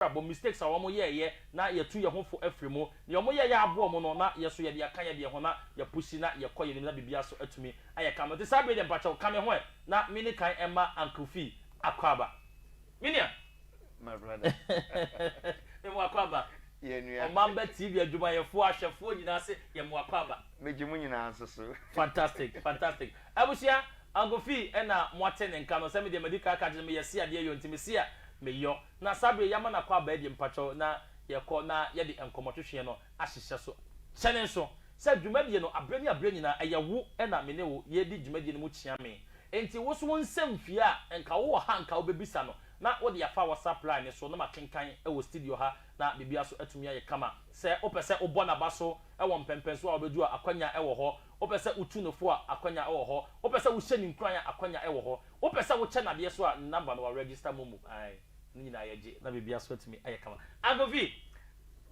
abrabɔ mu, mistakes a wɔn yɛɛyɛ na yɛ tu yɛ ho fo afiri mu, nea wɔn yɛɛyɛ aboɔ wɔn no na yɛ so yɛde aka yɛ deɛ ho na yɛ pusi na yɛ kɔ yɛ nim na biribiara so atumi ayɛ kama nti saa bere deɛ mpakyɛw ka me ho ɛ na me ne kan ɛma uncle fee akɔ aba me nua my brother me mo akɔ aba yɛ nua ɔmamba tv adwumayɛfoɔ ahwɛfoɔ nyinaa se yɛ mo akɔ aba me gye mo nyinaa nso so fantastic fantastic abusua. Agofi, Ɛna moate ne nka no, sɛ me deɛ madi kan aka akyerɛ no, meyɛ Sia deɛ yɔ nti me Sia me yɔ. Na saa bere yi yɛama no akɔ abaa deɛ mpakyɛw na yɛkɔ na yɛde nkɔmmɔ twetweɛ no ahyehyɛ so. Kyɛne nso, sɛ dwumadie no abere ne abere nyinaa ɛyɛ wo ɛna me ne wo yɛredi dwumadie no mu kyea me nti wo nso wo nsam fie a nka wo wɔ ha nka wo bɛbisa no na wode afa WhatsApp line no so na makenkan wɔ studio ha na biribiara nso atumi ayɛ kama. Sɛ wo pɛ sɛ wo bɔ naba so wɔ mpɛmpɛnsoɔ a wobɛdu a akwanya wɔ hɔ Wopɛ sɛ wutu no fo a, akwannya wɔ hɔ. Wopɛ sɛ wohyɛ no nkuran a, akwannya wɔ hɔ. Wopɛ sɛ wokyɛ no adeɛ nso a, ne number no, wɔaregister mo mu. Ae, ne nyinaa yɛ gye na biribiara nso atumi ayɛ kama. Uncle Vee,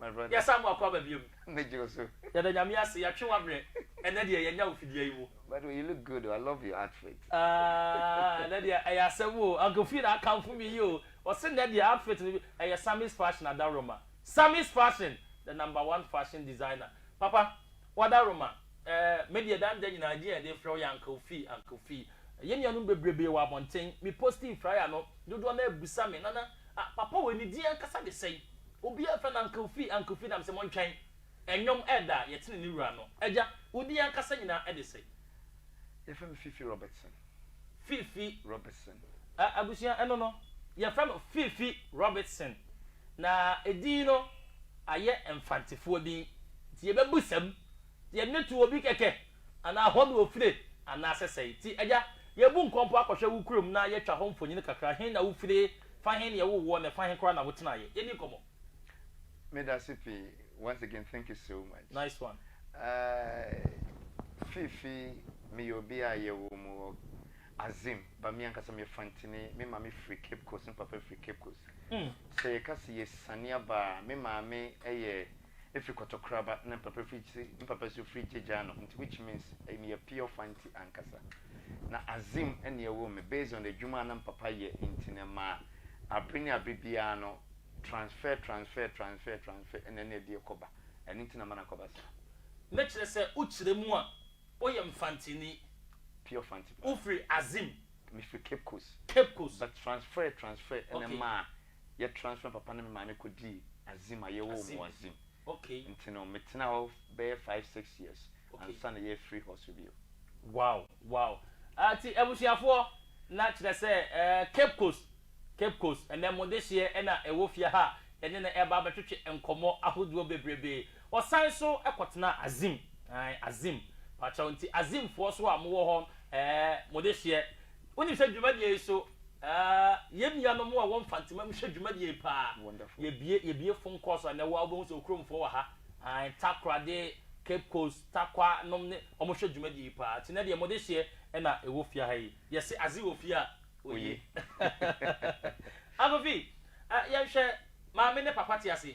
My brother. yɛsan mo akɔ aba biom. Megye wo so. Yɛda Nyame ase, yɛatwe w'abrɛ. Ɛnnɛ deɛ, yɛanya wo fidua yi mu. By the way, you look good o, I love your outfit. Aah, ɛnnɛ deɛ, ɛyɛ asɛm o. Uncle Vee na akamfo me yi o. Ɔse nnɛ deɛ, outfit no, ɛyɛ Sammy's Fashion Adaworoma. Sammy's Fashion, the number one fashion designer. Papa, Wadaroma, eh, me deɛ daa nda nyinaa gye a yɛde frɛ wo yɛ Uncle Fee, Uncle Fee. Yɛn nuanom bebrebee wɔ abɔnten, me posting fryer no, dodoɔ no ara bisa me, Nana, ah, papa wei ne din ankasa de sɛn? Obiara frɛ no Uncle Fee, Uncle Fee, na mese montwɛn, ɛnwom ɛreda a yɛtene ne wura no. Agya, wo din ankasa nyinaa de sɛn? Yɛfrɛ me Fifi Robertson. Fifi. Robertson. Ah, abusua, ɛno no, yɛfrɛ no Fifi Robertson. Na edin no ayɛ Mfantsefoɔ din, ntsi yɛbɛbusa mu, yɛdze no to obi kɛkɛ, anaa hɔ na ofire, anaasɛ sɛn? Ntsi, agya, yebu nkɔmpɔ akɔhwɛ wo kurom na yɛatwa hɔ mfonyin kakra, hen na wofire, fa hen na yɛwoo woɔ, na fa hen koraa na wotsenaeɛ. Yɛnni nkɔmmɔ. Medase pii once again thank you so much Nice one. Fifi meyɛ obi a yɛwoo me wɔ Azim, ba me ankasa me yɛ Fantini, me maame firi Cape Coast, me papa firi Cape Coast. Sɛ yɛ ka sɛ yɛ siane aba a, me maame yɛ firi Kɔtɔkoraba ɛna me papa firi Gye, me papa nso firi Gyegyaano, nti which means me yɛ pure Fanti ankasa. Na Azim ɛna ɛwoo me, based on adwuma a na me papa yɛ nti no ɛmaa abere ne abere biara no transfer, transfer, transfer, transfer ɛna ɛna ɛde ɛkɔ ba, ɛno nti na ama no akɔ ba saa. Na kyerɛ sɛ wo kyerɛ mu a, Woyɛ Mfantsini. Pure Mfantse paa. Wofiri Azim. Mefiri Cape Coast. Cape Coast. But transfer transfer na ɛmaa yɛ transfer papa ne me maame kɔdii Azim a yɛwoo me wɔ Azim. Okay. Nti no metenaa hɔ bɛyɛ five six years ansa na yɛafiri hɔ so bio. Wow wow. Nti abusuafoɔ na kyerɛ sɛ Cape Coast Cape Coast ɛnɛ mo dehyeɛ na ɛwɔ fie ha a yɛne no ɛreba abɛtwetwe nkɔmmɔ ahodoɔ bebrebee. Wɔsan nso kɔtenaa Azim, ae, Azim, pakyɛw, nti Azimfoɔ nso a mowɔ hɔ, ɛɛ, mo dehyeɛ. Wonim sɛ dwumadie yi so, ɛɛ, yɛn nuanom a ɛwɔ Mfantsema mu hwɛ dwumadie yi paa. Yɛbue, yɛbue phone calls a, nnɛ wo ara wobɛhu sɛ Okuromfoɔ wɔ ha, ae, Takoradi, Cape Coast, Tarkwa nom ne, wɔhwɛ dwumadie yi paa. Nti nnɛ deɛ mo dehyeɛ na ɛwɔ fie ha yi. Yɛse Azim wɔ fie a, oye. Akofi, yɛnhwɛ, maame ne papa te ase,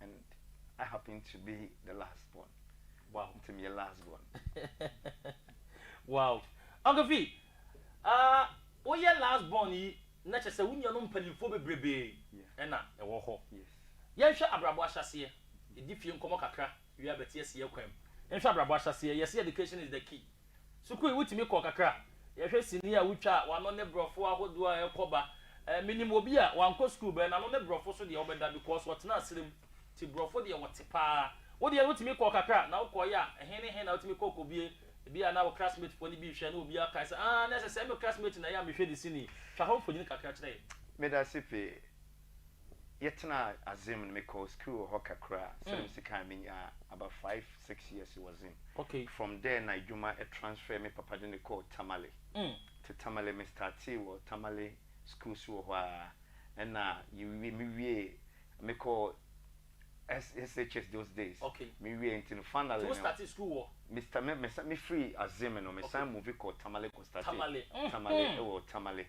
And I happen to be the last born. Wow. Nti meyɛ last born. Wow. Uncle Fi, ah, woyɛ last born yi na kyerɛ sɛ wo nuanom mpanimfoɔ bebrebe na ɛwɔ hɔ. Yes. Yɛnhwɛ abrabɔ ahyɛaseɛ. Yɛdi fie nkɔmmɔ kakra wie a bɛte aseɛ kwan mu. Yɛnhwɛ abrabɔ ahyɛaseɛ. Yɛse education is the key. Sukuu yi wotumi kɔ kakra? Yɛhwɛ sini a wotwa a, w'ano ne brɔfo ahodoɔ a ɛkɔ ba. Eh, menim obi a, wankɔ sukuu bɛɛ, n'ano ne brɔfo so deɛ wobɛda because ɔtenaa serɛ mu. Nti brɔfo deɛ wɔte paa. Wo deɛ no wotumi kɔ kakra? Na wokɔeɛ a, he ne he na wotumi kɔ kɔbue? Ebi a na wo classmate foɔ no bi rehwɛ na obi akae sɛ, aah, na ɛsɛ sɛɛ me classmate na ɛyɛ a mehwɛ ne sini. Twa hɔ mfonini kakra kyerɛ yɛn. Medase pii. yɛtsenaa Azim no mekɔɔ skuul wɔ hɔ kakra a sɛdɛ mese kan menya about five six years wɔ Zim from there na edwuma transfer me papa dze me kɔɔ Tamale tse Tamale me startee wɔ Tamale skuul so wɔ hɔ a nna yewie mewiee mekɔɔ SHS those days mewiee ntsi no finally no me sta me me me firii Azim no mesan move kɔɔ Tamale kɔ startee Tamale wɔ Tamale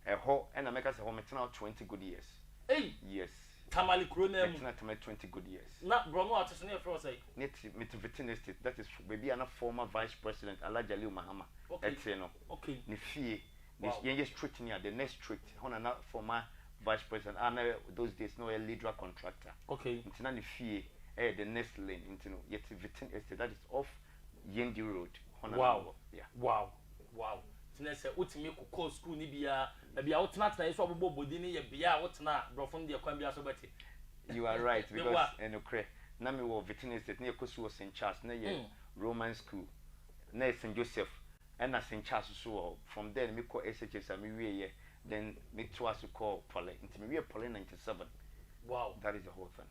Ɛhɔ na mɛka sɛ hɔ metena twenty good years. Ei! Yes. Tamale kuro no ara mu. Mɛtena Tamale twenty good years. Na borɔ no a ɔte so no yɛfrɛ hɔ sɛn? Ne te Mitivitini Estate, that is baabi a na former Vice President Alhaji Aliyu Mahama Okay. te no. Okay. Ne fie, ne Wow. yɛnyɛ street no a, the next street, hɔ na na former Vice President a na those days na ɔyɛ Lidra contractor. Okay. Nti na ne fie yɛ the next lane, nti no yɛte Vitini Estate, that is off Yendi road hɔ na na mewɔ yeah. Wow wow nti na sɛ wotumi kɔkɔɔ sukuu no bi a baabi a wotenatenae nso a wobobɔ bɔ din no yɛ bea a wotena a brɔfo no deɛ kwan biara so wobɛte. You are right because nokorɛ na mewɔ Vitin estate na yɛkɔ sukuu wɔ St Charles na yɛ Roman school na yɛ St Joseph ɛna St Charles nso wɔ hɔ from there no mekɔ SHS a mewieɛ then metoa so kɔɔ Poly nti mewieɛ Poly ninety seven Wow that is the whole thing.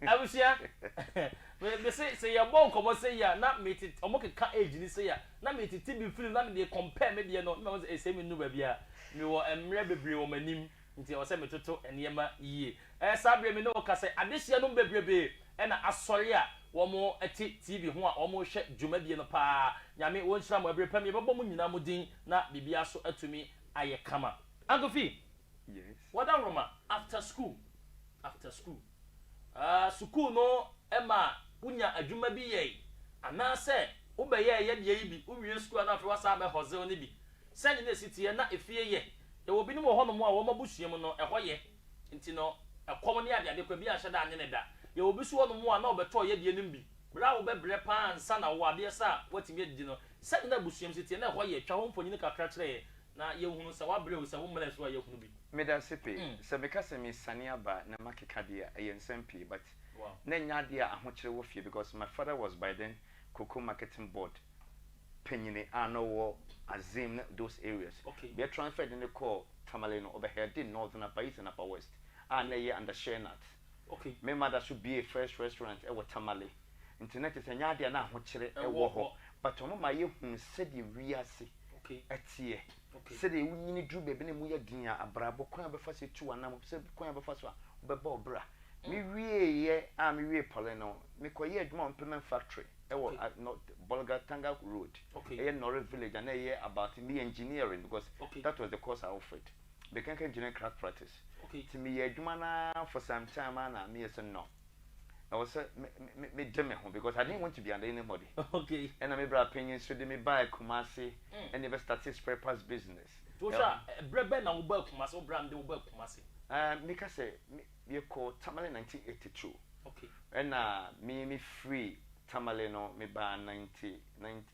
Abusua, me me se sɛ yɛ bɔ nkɔmɔ sɛ yi a na me te ɔmo keka age ni sɛ yi a na me tete bi film na me deɛ compare me deɛ no na me se esɛ me nu baabi a me wɔ mmerɛ bebree wɔ m'anim nti ɛwɔ sɛ me toto nneɛma yie ɛɛ saa bere me ne wo ka sɛ adesua nom bebrebee ɛna asɔre a wɔmo te TV ho a wɔmo hwɛ dwumadie no paa Nyame wo nhyira mo ɛbere pa me yɛbɛbɔ mo nyinaa mo din na biribiara so atumi ayɛ kama. Uncle Fee, Yes. Wɔda nwoma after school after school ah sukuu no ma wo nya adwuma bi yɛe anaa sɛ wo bɛyɛɛ yɛ deɛ yi bi wo wie sukuu a na afei wasan abɛ hustle ne bi sɛ ne na ɛsi teɛ na ɛfie yɛ yɛwɔ binom wɔ hɔ nom a wɔn abusua mu no ɛhɔ yɛ nti no ɛkɔm ne ade ade kwa bi anhyɛ da anye ne da yɛwɔ bi so hɔ nom a na ɔbɛtɔɔ yɛ deɛ nom bi berɛ a wo bɛ brɛ paa ansa na wo adeɛ sa a watumi adidi no sɛ ne na abusuam si teɛ na ɛhɔ yɛ twa hɔ mfonyin kakra kyerɛ yɛ na yɛhunu sɛ woabrɛ o sɛ wo mmara so a yɛhunu bi. Meda ase pɛɛ sɛ meka sɛ mesane aba na makeka deɛ a ɛyɛ nsɛm pii but na ɛnyɛ adeɛ a ahokyere wɔ fie because my father was by then cocoa marketing board panyini a na ɔwɔ Azim ne those areas bia yɛ transfer de no kɔɔ Tamale no ɔbɛ headi Northern Upper East and Upper West a na ɛyɛ under Share Nuts me mother so biee first restaurant ɛwɔ Tamale. Nti na kyerɛ sɛ ɛnyɛ adeɛ a na ahokyerɛ wɔ hɔ. But wɔn ma yɛhunu sɛdeɛ wiase teɛ. Sɛdeɛ wonyini duru baabi na ɛmu yɛ den a, abrabɔ, kwan a wobɛfa so atu w'anam, sɛ kwan a wobɛfa so a wobɛbɔ wo bra. Mewieeɛ a mewie poly no, mekɔyɛɛ adwuma wɔ implement factory wɔ North Bolgatanga road, ɛyɛ Nore village a na ɛyɛ about me engineering because that was the course I offered. Mechanical engineering crack practice. Nti meyɛɛ adwuma no ara for some time a na meyɛ sɛ no. ɛwɔ sɛ me me me de me ho because I didn't want to be under anybody. Okay. Ɛna me bra panyin nso de me baa Kumasi mm. ɛna ɛbɛ start spare parts business. Tosha ɛbrɛ bɛ na wo baa Kumasi wo bra mi de wo baa Kumasi. Ɛɛ mi ka sɛ mi yɛ kɔ Tamale 1982. Okay. Ɛna mi mi free Tamale no me baa 1990.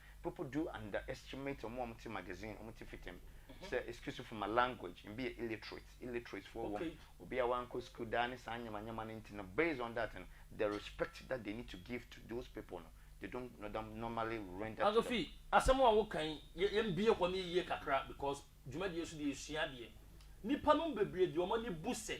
People do underestimate ɔmo a ɔmo te magazine, ɔmo te fitam, sɛ excuse for my language, ebi yɛ illiterate, illiterates foɔ wɔ mu, obi a wankɔ sukuu daa ne saa nyama nyama no nti no, based on that no, the respect that they need to give to those people no, they don't normally render to them. Asofi, asɛm a woka yi, yɛn bue hɔ no yie kakra because dwumadie so deɛ yɛsua adeɛ. Nnipa nom bebree deɛ wɔn ani bu sɛ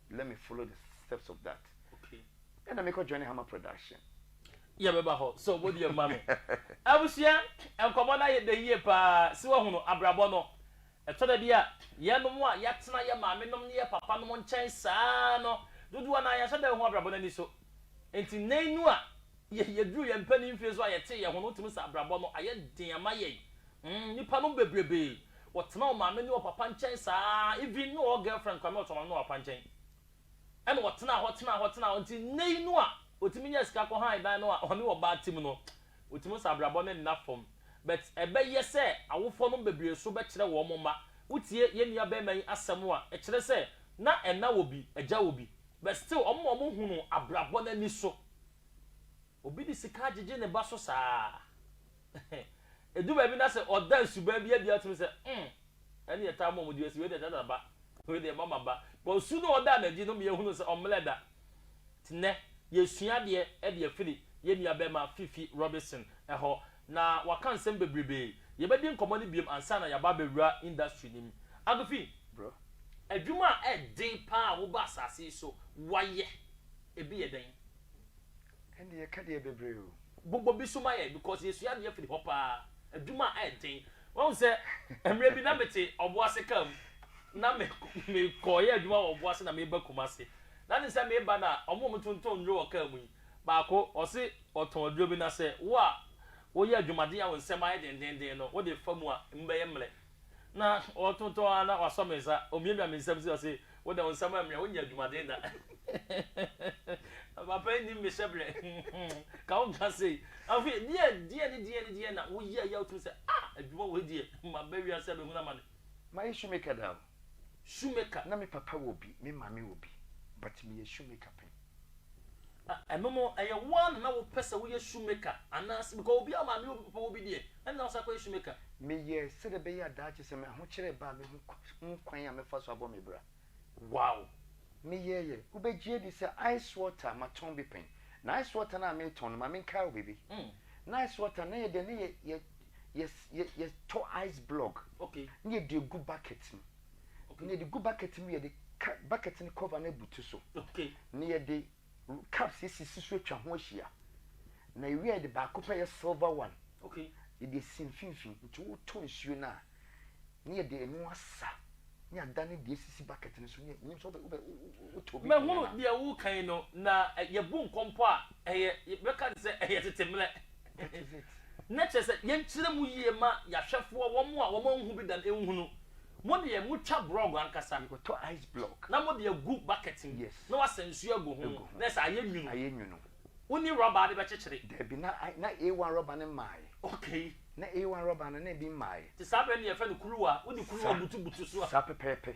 let me follow the steps of that okay ɛna mekɔ join hammer production yɛbɛba hɔ sɛ ɔbɔ deɛ ma me abusua nkɔmmɔ no ayɛ dɛ yie paa sɛ wahunu abrabɔ no ɛtɔ da bi a yɛnom a yɛatena yɛ maame nom ne yɛ papa nom nkyɛn saa no dodoɔ no a yɛnhyɛ da ho abrabɔ no ani so nti nnɛ yi no a yɛduru yɛn mpanin mfie so a yɛte yɛ ho no wotumi sɛ abrabɔ no ayɛ den ama yɛn Mm nipa nom bebrebee wɔtena ɔmaame ne ɔpapa nkyɛn saa even ne ɔɔ girlfriend koraa me ɔte ɔmaame ne ɔpapa nkyɛn ɛna ɔtenaa hɔ tenaa hɔ tenaa hɔ nti nnɛ yi no a ɔtumi nyaa sika kɔ han dan no a ɔne ɔbaa te mu no ɔtumi sɛ abrabɔ no nna fam but ɛbɛyɛ sɛ awofoɔ nom bebrebee so bɛkyerɛ wɔn mma wotie yɛn nua bɛɛma yi asɛm a ɛkyerɛ sɛ na ɛna wɔ bi agya wɔ bi but still wɔn a wɔhunu abrabɔ no ani so. Obi de sika agyegye ne ba so saa. Edu baabi na sɛ ɔda nsuban bi adi a wotumi sɛ, mm, ɛne yɛtaa ma wɔn di asi, wei deɛ ɛda da ba, wei deɛ ɛma ma ba. But nsu no a ɔdaa n'adi no ma yɛhunu sɛ ɔmmlɛ da. Nti nnɛ, yɛresua adeɛ de afiri yɛn nuabarima Fifi Robinson hɔ, na waka nsɛm bebrebe. Yɛbɛdi nkɔmmɔ no bio ansa na yɛaba abɛwura industry no mu. Uncle Fi, Bro. adwuma a ɛyɛ den pa ara a wobaa asase yi so woayɛ, ebi yɛ dɛn? Ɛnde yɛka deɛ bebree o. Bobɔ bi so ma yɛn because yɛsua adeɛ firi hɔ paa. Adwuma a ɛyɛ den. Wahu sɛ mmerɛ bi na mete Ɔboase kaa mu na me mekɔɔyɛ adwuma wɔ Ɔboase na meba Kumase. Na ne sɛ meba no a ɔmo a ɔmo tontɔn nnuro wɔ kaa mu yi baako ɔse ɔtɔn aduro bi na sɛ wo a woyɛ adwumaden a wo nsɛm ayɛ dendenden no wode fa mu a emu bɛyɛ mmerɛ. Na ɔtontɔn ara na wasɔ me nsa, omiamia me nsam se ɔse, Wo de, wo nsam ammia, wonyɛ adwumaden da. Papa nnim me hyɛbrɛ, ka wo nka sei. Afei, deɛ, deɛ ne deɛ ne deɛ na woyɛ yɛ a wotumi se, Ah! Adwuma wei deɛ, maba wiase abɛhunu amane. Mayɛ shoemaker da o. Shoemaker? Na me papa wɔ bi, me maame wɔ bi, but meyɛ shoemaker pɛn. Na ɛno no ɛyɛ wo ara na na wopɛ sɛ woyɛ shoemaker anaasɛ because obiara maame yɛ obi papa obi deɛ ɛna na wosan kɔyɛ shoemaker. Meyɛɛ sɛdeɛ ɛbɛyɛ a daakye sɛ m'ahokyerɛ ba a mɛhu kwan a mɛfa so abɔ me bra. Wow! Meyɛeɛ. Wobɛgye adi sɛ ice water matɔn bi pɛn. Na ice water no a metɔn no, ma menkae wo biribi. Na ice water no na yɛ dɛn? Na yɛ yɛ yɛ yɛtɔ ice block na yɛde gu bucket mu. na yɛde gu bucket mu yɛde ka bucket no cover no abutu so na yɛde cups esisi so atwa ho ahyia na ewie a yɛde baako pɛ yɛ silver one yɛde esi mfimfini nti wotɔ nsuo no a na yɛde ɛno asa ne ada ne deɛ esisi bucket no so ne nyim sɛ wobɛ wotɔ bi. mɛhunu deɛ wokan no na yɛbu nkɔmpɔ a ɛyɛ bɛka te sɛ ɛyɛ tete mmerɛ. Exit, na kyerɛ sɛ yɛnkyerɛ mu yie ma yɛahwɛfoɔ, wɔn a wɔanhu bi da no nhunu. Mo deɛ motwa brɔg ankasa. Yɛkɔtɔ ice block. Na mode agu bucket mu. Yes. Na woasa nsuo agu ho. Agu ho. Na ɛsɛ ayɛ nwunu. Ayɛ nwunu. Wonni rɔba de bɛkyekyere? Dabi, na na A1 rɔba no mmaeɛ. Okay. Na A1 rɔba no, na ebi mmaeɛ. Nti saa berɛ no yɛfrɛ no kuruwa. Wode kuruwa butubutu so a. Saa pɛpɛɛpɛ.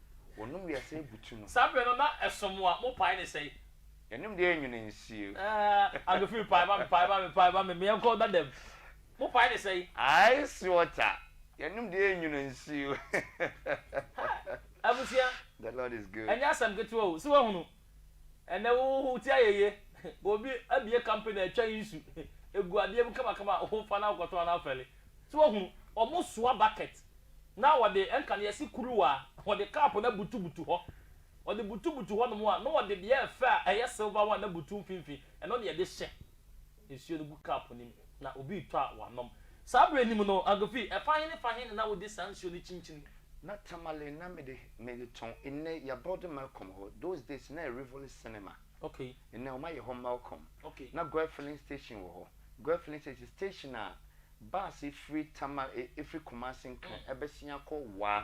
Wɔnom wiase abutu no. Saa berɛ no na ɛsom a mopae ne sɛn? Yɛnom deɛ ɛnwene nsuo. Aah Agofin pae ma me pae ma me pae ma me meɛnkɔ Dadam mopae ne sɛn? Ice water yɛnom deɛ ɛnwene nsuo. Hi Abusua The Lord is good. Ɛnyɛ asɛm ketewa o, sɛ woahunu Ɛnɛ wo ho te ayɛyie obi abue company atwa nsu egu adeɛ mu kamakama a wo fa na wokɔtɔn anaa fɛle so wahunu ɔmo soa bucket na ɔde ɛnka no yɛse kuruwa ɔde cup no abutu butu hɔ ɔde butu butu hɔ nom a na ɔde deɛ ɛfɛ a ɛyɛ silver one abutu mfinfin ɛno na yɛde hyɛ nsuo no gu kaapo no mu, na obi retɔ a wanom. Saa berɛ no mu no, Agufi, ɛfa he ne fa he na na wode saa nsuo no kyinkyini? Na Tamale na mede mede tɔn. Nnɛ, yɛabuilde Malcom hɔ. Those days, na ɛyɛ Rivoli Cinema. Okay. Nnɛ, wɔayɛ hɔ Malcom. Okay. Na Goil Filling Station wɔ hɔ. Goil Filling Station, station a bus firi Tamale, firi Kumasi nkan bɛsen akɔ Wa.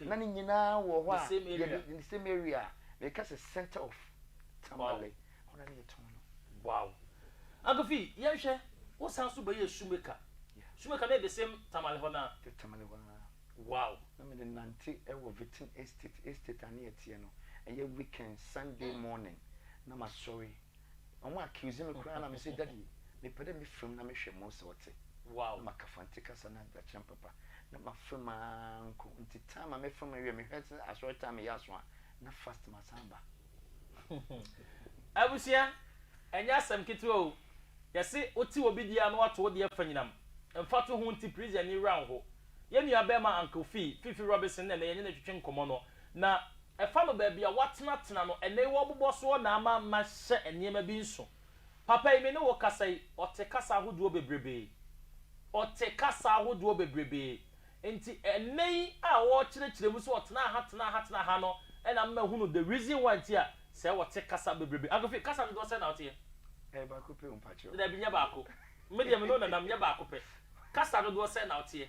na ne nyinaa wɔ hɔ a yɛde the same area a meka sɛ center of tamale hɔ na ne yɛtɔn no. Wow. Uncle Fi, yɛnhwɛ, wo san so bɛyɛɛ shoemaker. Yeah. Shoemaker no yɛ the same tamale hɔ no a? The tamale hɔ no a. Wow. Na mede nante wɔ Vitin Estate, estate a ne yɛteɛ no, ɛyɛ weekend, Sunday morning, na masɔre. Ɔmo accuse me koraa na mese daddy mepɛ dɛ me fam na me hwɛ mo sɛ ɔte na ma ka fante kasa na akyerɛ papa na ma fam aa nko nti time a me fam no wie me hwɛ sɛ asɔre time yɛ aso a na fast ma san ba. Abusua ɛnyɛ asɛm ketewa o yɛse wote obi deɛ a na wato wo deɛ fanyinam mfa to ho nti please ani wura nho yɛn nua bɛɛma Uncle Fee, Fifi Robinson na ɛnɛ yɛne no retwetwe nkɔmɔ no na Ɛfa no baabi a woatenatena no ɛnnɛ yi wɔbobɔ soɔ na ama mahyɛ nneɛma bi nso. Papa yi me ne wo kasa yi ɔte kasa ahodoɔ bebrebee. Ɔte kasa ahodoɔ bebrebee. Nti ɛnnɛ yi a ɔrekyerɛkyerɛ mu sɛ ɔtenaa ha tenaa ha tenaa ha no ɛna ama mahunu the reason why nti a sɛ wɔte kasa bebrebee. Uncle Phil kasa dodoɔ sɛn na woteɛ? Ɛyɛ baako pɛ o mpakyɛw. Dabi nyɛ baako. Me deɛ me ne wo nanam nyɛ baako pɛ. Kasa dodoɔ sɛn na woteɛ?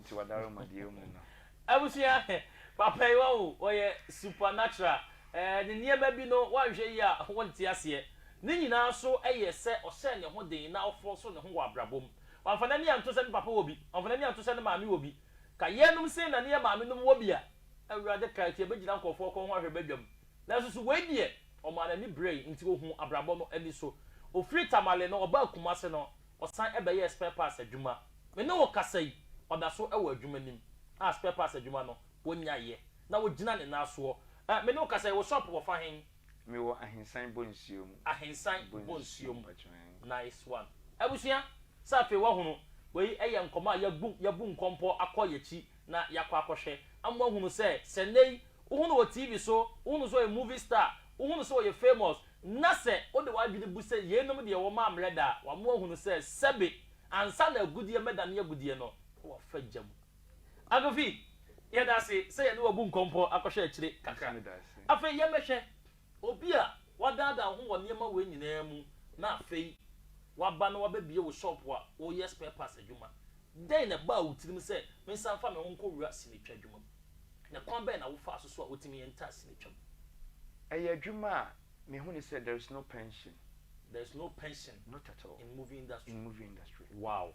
Nti wadare ma deɛ ɔmu no. Abusua papa yi wahu ɔyɛ supernatural eh ne nneɛma bi no woanhwɛ yie a wonte aseɛ ne nyinaa nso yɛ sɛ ɔhyɛɛ ne ho den na ɔfɔɔ so ne ho wɔ abrabɔ mu wamfa n'ani anto sɛ ne papa wɔ bi wamfa n'ani anto sɛ ne maame wɔ bi ka yɛnom sei na ne yɛ maame nom wɔ bi a awurade ka nti yɛbɛgyina nkorɔfoɔ kɔn ho ahwɛ badwam nanso so wei deɛ ɔmaa n'ani brɛe nti ɔhuu abrabɔ no ani so ɔfiri Tamale no ɔbaa Kumase no Ɔsan bɛyɛɛ spare parts adwuma. Me ne wo kasa yi, ɔda so wɔ adwuma nim a spare parts adwuma no wɔnyaeɛ na ɔgyina ne nan soɔ. Ɛ, me ne wo kasa yi, wo shop wɔ fa hen? Me wɔ Ahensan Bonsuo mu. Ahensan Bonsuo mu, nice one. Abusua, sɛ afei wahunu, wei yɛ nkɔmmɔ a yɛabu, yɛabu nkɔmpɔ akɔ yɛn akyi na yɛakɔ akɔhwɛ ama woahunu sɛ, sɛ nnɛ yi wohu no wɔ TV so, wohu no sɛ ɔyɛ movie star, wohu no sɛ ɔyɛ famous, na sɛ wode w'adwene bu sɛ yeinom deɛ wɔma ammrɛ da a, wama woahunu sɛ sɛbe ansa na agudeɛ mmɛdane agudeɛ no, wɔafa gya mu. Akofi, yɛda ase sɛ yɛne wo abu nkɔmpɔ akɔhwɛ akyire kakra. Afei yɛmmɛhwɛ. Obi a woadaadaa wo ho wɔ nneɛma wei nyinaa mu na afei woaba na woabɛbue wo shop a woyɛ spare parts adwuma. Dɛn na ɛbaa wo tirim sɛ mensan mfa me ho nkɔwura sinitwa adwuma mu? Na kwan bɛn na wofaa so so a wotumi yɛ ntaa sinitwa mu? Ɛyɛ adwuma a mehunii sɛ there is no pension. There is no pension Not at all. in movie industry. In movie industry. Wow!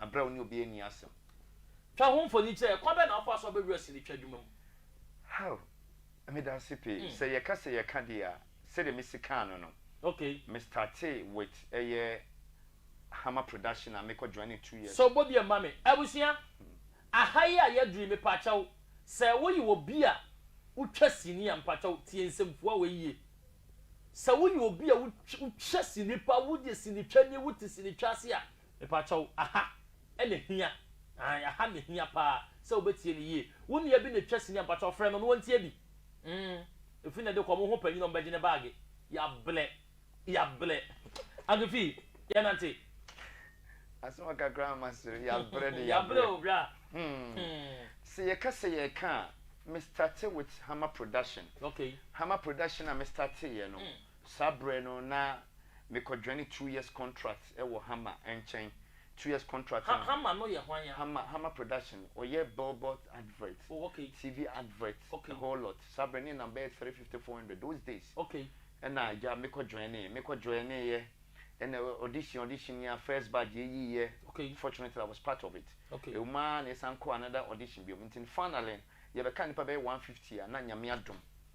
Bere a wo ne obi anni asɛm. Twa ho mfoni kyerɛ. Kwan bɛn na wofa so a wobɛwura sini twa adwuma mu? How, Meda ase pii. Sɛ yɛka sɛ yɛka deɛ a, sɛdeɛ mesi kaa no no, me startee with ɛyɛ Hammer Production a mekɔ Joanne two years. Sɛ wobɔ bi a ma me. Abusua, aha yi a yɛaduru yi, mepakyɛw, sɛ woye obi a wotwa sini a, mepakyɛw, tie nsɛmfua wei yie. Sɛ woye obi a wotwa sini paa, woye sinitwani, wote sinitwa ase a, Mepakyɛw, aha na ehia, ae, aha na ehia paa sɛ wubetie no yiye. Wo nua bi na etwa sini a, mpakyɛw frɛ no na ontie bi. Mm, efi nnɛ de kɔ, mo ho panyin a ɔbɛgye ne baage. Yɛabrɛ, yɛabrɛ. Uncle Fi, yɛnnante. Asɛm a kakra a masere, yɛabrɛ de, yɛabrɛ. Yɛabrɛ o, bra. Hmm. Sɛ yɛka sɛ yɛreka a, me startee with Hama Production. Okay. Hama Production a me starteeɛ no, Saa berɛ no na mekɔdwane two years contract wɔ Hammer nkyɛn, two years contract no. Ha Hammer no yɛ hwan a? Hammer, Hammer production, ɔyɛ billboard advert, oh ok, TV advert, ok, a whole lot, saa berɛ no yɛnam bɛyɛ three fifty, four hundred those days, ok, ɛna agya mekɔ joinee, mekɔ joineeɛ, ɛna audition, audition yi a first batch yɛyiiɛ, ok, fortunately I was part of it, ok, ɛwɔ mu ara na yɛsan kɔɔ another audition bio, nti finally no yɛbɛkaa nnipa bɛyɛ one fifty a na Nyame adom,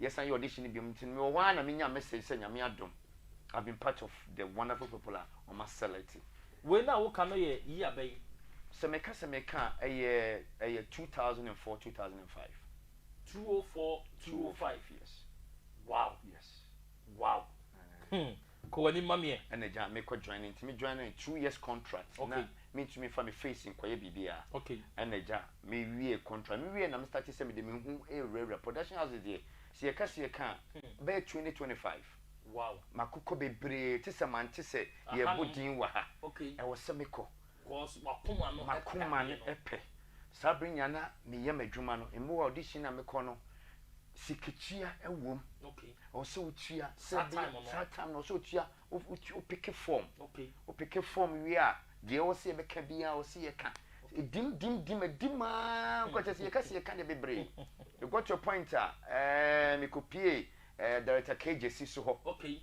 Yɛsan yɛ audition no biom nti no mewɔ hɔ ara na menya message sɛ Nyame adom I've been part of the wonderful people a wɔn a select. Wei no a woka no yɛ yi abɛ yi? Sɛ meka sɛ meka a ɛyɛ ɛyɛ two thousand and four, two thousand and five. Two oh four, two oh five. Yes. Wow! Yes. Wow! Hmm. Kɔ w'anim ma meɛ. Ɛna gyaa me kɔ joinee nti me joinee two years contract na me ntumi nfa me face nkɔyɛ biribiaa ɛna gyaa me wiee contract me wiee na me startee sɛ mede me ho ɛɛwurawura production houses deɛ sɛ yɛka sɛ yɛka a bɛyɛ twenty twenty five makokɔ bebree te sɛ mante sɛ yɛɛbɔ din wɔ ha ɛwɔ sɛ me kɔ Cause m'akoma no pɛ adeɛ no. M'akoma no pɛ. Saa bere nyinaa na meyɛ m'adwuma no. Mmoa a ɔde sin a mekɔ no, sikatua wɔ mu. Okay. Ɛwɔ sɛ wotua. Saa time no. Saa time no, ɛwɔ sɛ wotua, wopeke form. Okay. Wopeke form wie a, deɛ ɛwɔ sɛ yɛbɛka biara ɛwɔ sɛ yɛka. Ɛdim, dim, dim, ɛdim ara nkɔ kyerɛ sɛ yɛka sɛ yɛka deɛ bebree. It got to a point a, ɛɛ, mekɔpuee ɛɛ Director Kay Gyasi so hɔ. Okay.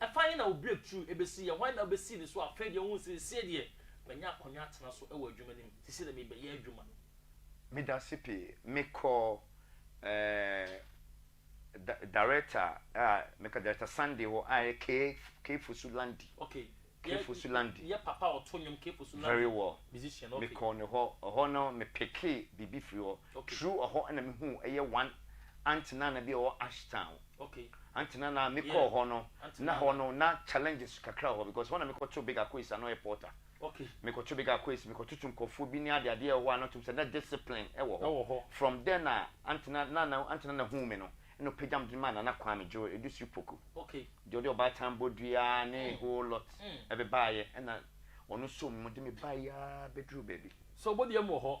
Ɛfa he na wo breakthrough besi? Yɛ hwan na wobesi ne so? Afei deɛ wohu seesei deɛ manya akonnwa atena so wɔ adwuma no mu, seesei deɛ merebɛyɛ adwuma. Medase pii. Mekɔɔ da Director a meka Director Sunday hɔ a ɛyɛ Kee Kee Fosu Landy. Ok. Kee Fosu Landy. Yɛ papa a ɔto nnwom Kee Fosu Landy. Very well. Musician ok. Mekɔɔ ne hɔ. Ɛhɔ no me pickee biribi firi hɔ. Okay. True ɔhɔ na me huu ɛyɛ one aunty nana bi a ɔwɔ Ashtown. Okay. Aunty nana me kɔɔ hɔ no na hɔ no na challenges kakra wɔ hɔ because hɔ na me kɔ too big akois a na ɔyɛ porter. Okay. Me kɔ too big akois me kɔ toto nkorɔfoɔ bi ne ade adeɛ ɛwɔ hɔ a na ɔtum sɛ na discipline ɛwɔ hɔ. Ɛwɔ hɔ. From there na aunty na nana aunty nana huu me no ɛna ɔpagya me de maa nana kwame Joe Edusiri Poku. Okay. Deɛ ɔde ɔbaatan bɔdua ne a whole lot ɛbebaayɛ ɛna ɔno nso mu de me baeɛ aa bɛduru baabi. So ɔbɔdua mu wɔ hɔ.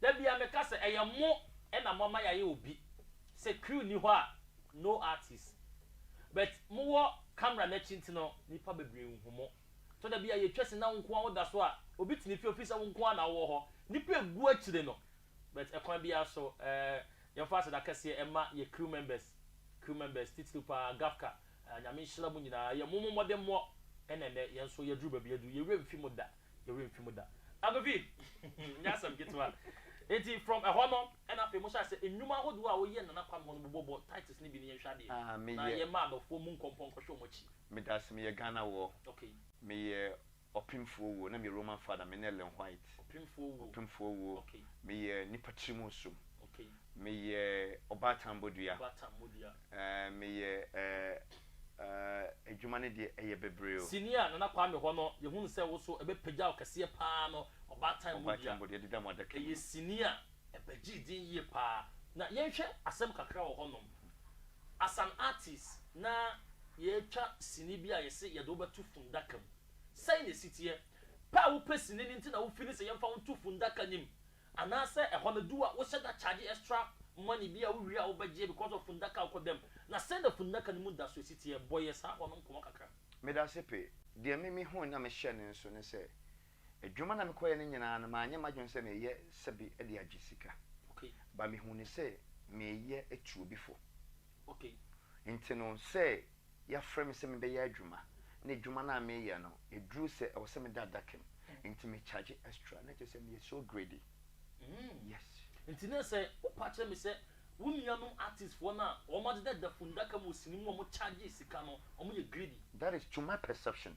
Da biara meka sɛ ɛyɛ mo na mo ama yɛayɛ obi, sɛ crew nni hɔ a no artist but mo wɔ camera no akyi nti no nnipa bebree nhu mo. Tɔ da bi a yɛtwa sini na wo nko ara woda so a obi tene fie ofiri sɛ wo nko ara na wowɔ hɔ, nnipa ɛgu akyire no but ɛkwan biara so eh yɛmfa aseda kɛseɛ ɛma yɛ crew members, crew members titiriw paa Gafka. Nyame nhyira mo nyinaa yɛ mo mo mmɔdemmɔ ɛna ɛnɛ yɛn nso yɛduru baabi adu yɛwerɛ mfi mo da yɛwerɛ mfi mo da Agovi nyɛ asɛm ketewa enti from ɛhɔ no ɛna afei mo hyɛ ase nnwuma ahodoɔ a woyɛ Nana Kwame hɔ no bobɔ bɔ tights no bi ne yɛnhwɛ adeɛ Ah meyɛ. na yɛmma adɔfoɔ mmu nkɔmpɔ nkɔhwɛ wɔn akyi. Medase meyɛ Ghana wɔ. Okay. Meyɛ Ɔpemfoɔ owuo, na meyɛ Roman Father, mene Ellen White. Ɔpemfoɔ owuo. Ɔpemfoɔ owuo, Okay. meyɛ nipa tiri mu nsom. Okay. Meyɛ ɔbaatan bodua. Ɔbaatan bodua. Eh, meyɛ eh, eh, adwuma no deɛ ɛyɛ bebree o. Sini a Nana Kwame hɔ no, yɛhunu sɛ wo so ɛbɛpagya wo kɛseɛ paa no, ɔbaatan bodua. Ɔbaatan bodua, ɛdeda mo adaka mu no. Ɛyɛ sini a. Ɛbɛgyee din yie paa. Na yɛnhwɛ asɛm kakra wɔ hɔnom. As an artist, na yɛretwa sini bi a yɛse yɛde wo bɛto fundaka mu. Sɛn na ɛsi teɛ? Pɛ a wopɛ sini no nti na wo feeli sɛ yɛmfa wo nto fundaka no mu? Anaasɛ ɛhɔ no du a wohyɛ da charge extra money bi a wowie a wobɛgyeɛ because of fundaka a wokɔda mu? Na sɛn na fundaka no mu da so si teɛ? Bɔ yɛn saa hɔ no nkɔmmɔ kakra. Medase pee. Deɛ me mehuu na mehyɛ no nso ne sɛ, Adwuma na mekɔeɛ no nyinaa no, manyɛ m'adwene sɛ mereyɛ sɛbe de agye sika. Ba mehuu no sɛ mereyɛ atu obi fo. Nti no, sɛ yɛafrɛ me sɛ mebɛyɛ adwuma, na adwuma no a mereyɛ no, ɛduru sɛ ɛwɔ sɛ meda adaka mu, nti me charge extra. Na kyerɛ sɛ meyɛ so greedy. Yes. Nti na sɛ wopa akyerɛ me sɛ wo nuanom artists foɔ no a wɔadeda fundaka mu wɔ sini mu a wɔcharge sika no, wɔyɛ greedy. That is to my perception.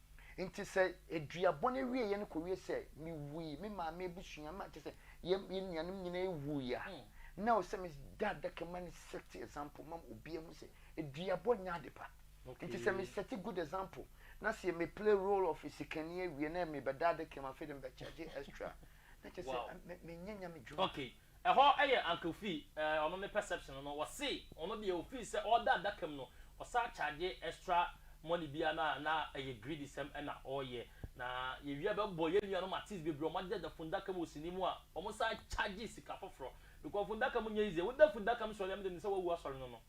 Nti sɛ eduabɔ no awieɛ no kɔwie sɛ mewui, me maame abusua, me kyerɛ sɛ yɛn yɛn nuanom nyinaa awui a, na ɛwɔ sɛ meda adaka mu ma no set example ma obiara hu sɛ eduabɔ nyɛ ade pa. Nti sɛ me set good example na sɛ me play role of sikani awie na mebɛda adaka mu afei deɛ mebɛkyɛgye extra na kyerɛ sɛ me menyɛ Nyame dwuma. Okay, Ɛhɔ yɛ uncle fee eh ɔno ne perception no ɔse ɔno deɛ ofii sɛ ɔɔda adaka mu no ɔsan charge extra money bia no a na ɛyɛ greedy sɛm na ɔɔyɛ na yɛwie a bɛbɔ yɛn nuanom artist bebree ɔmo agyagya fundaka mu wɔ sini mu a ɔmo san charge sika foforɔ because fundaka mu nyɛ easy woda fundaka mu sɔre a me deɛ menim sɛ wawu asɔre no no.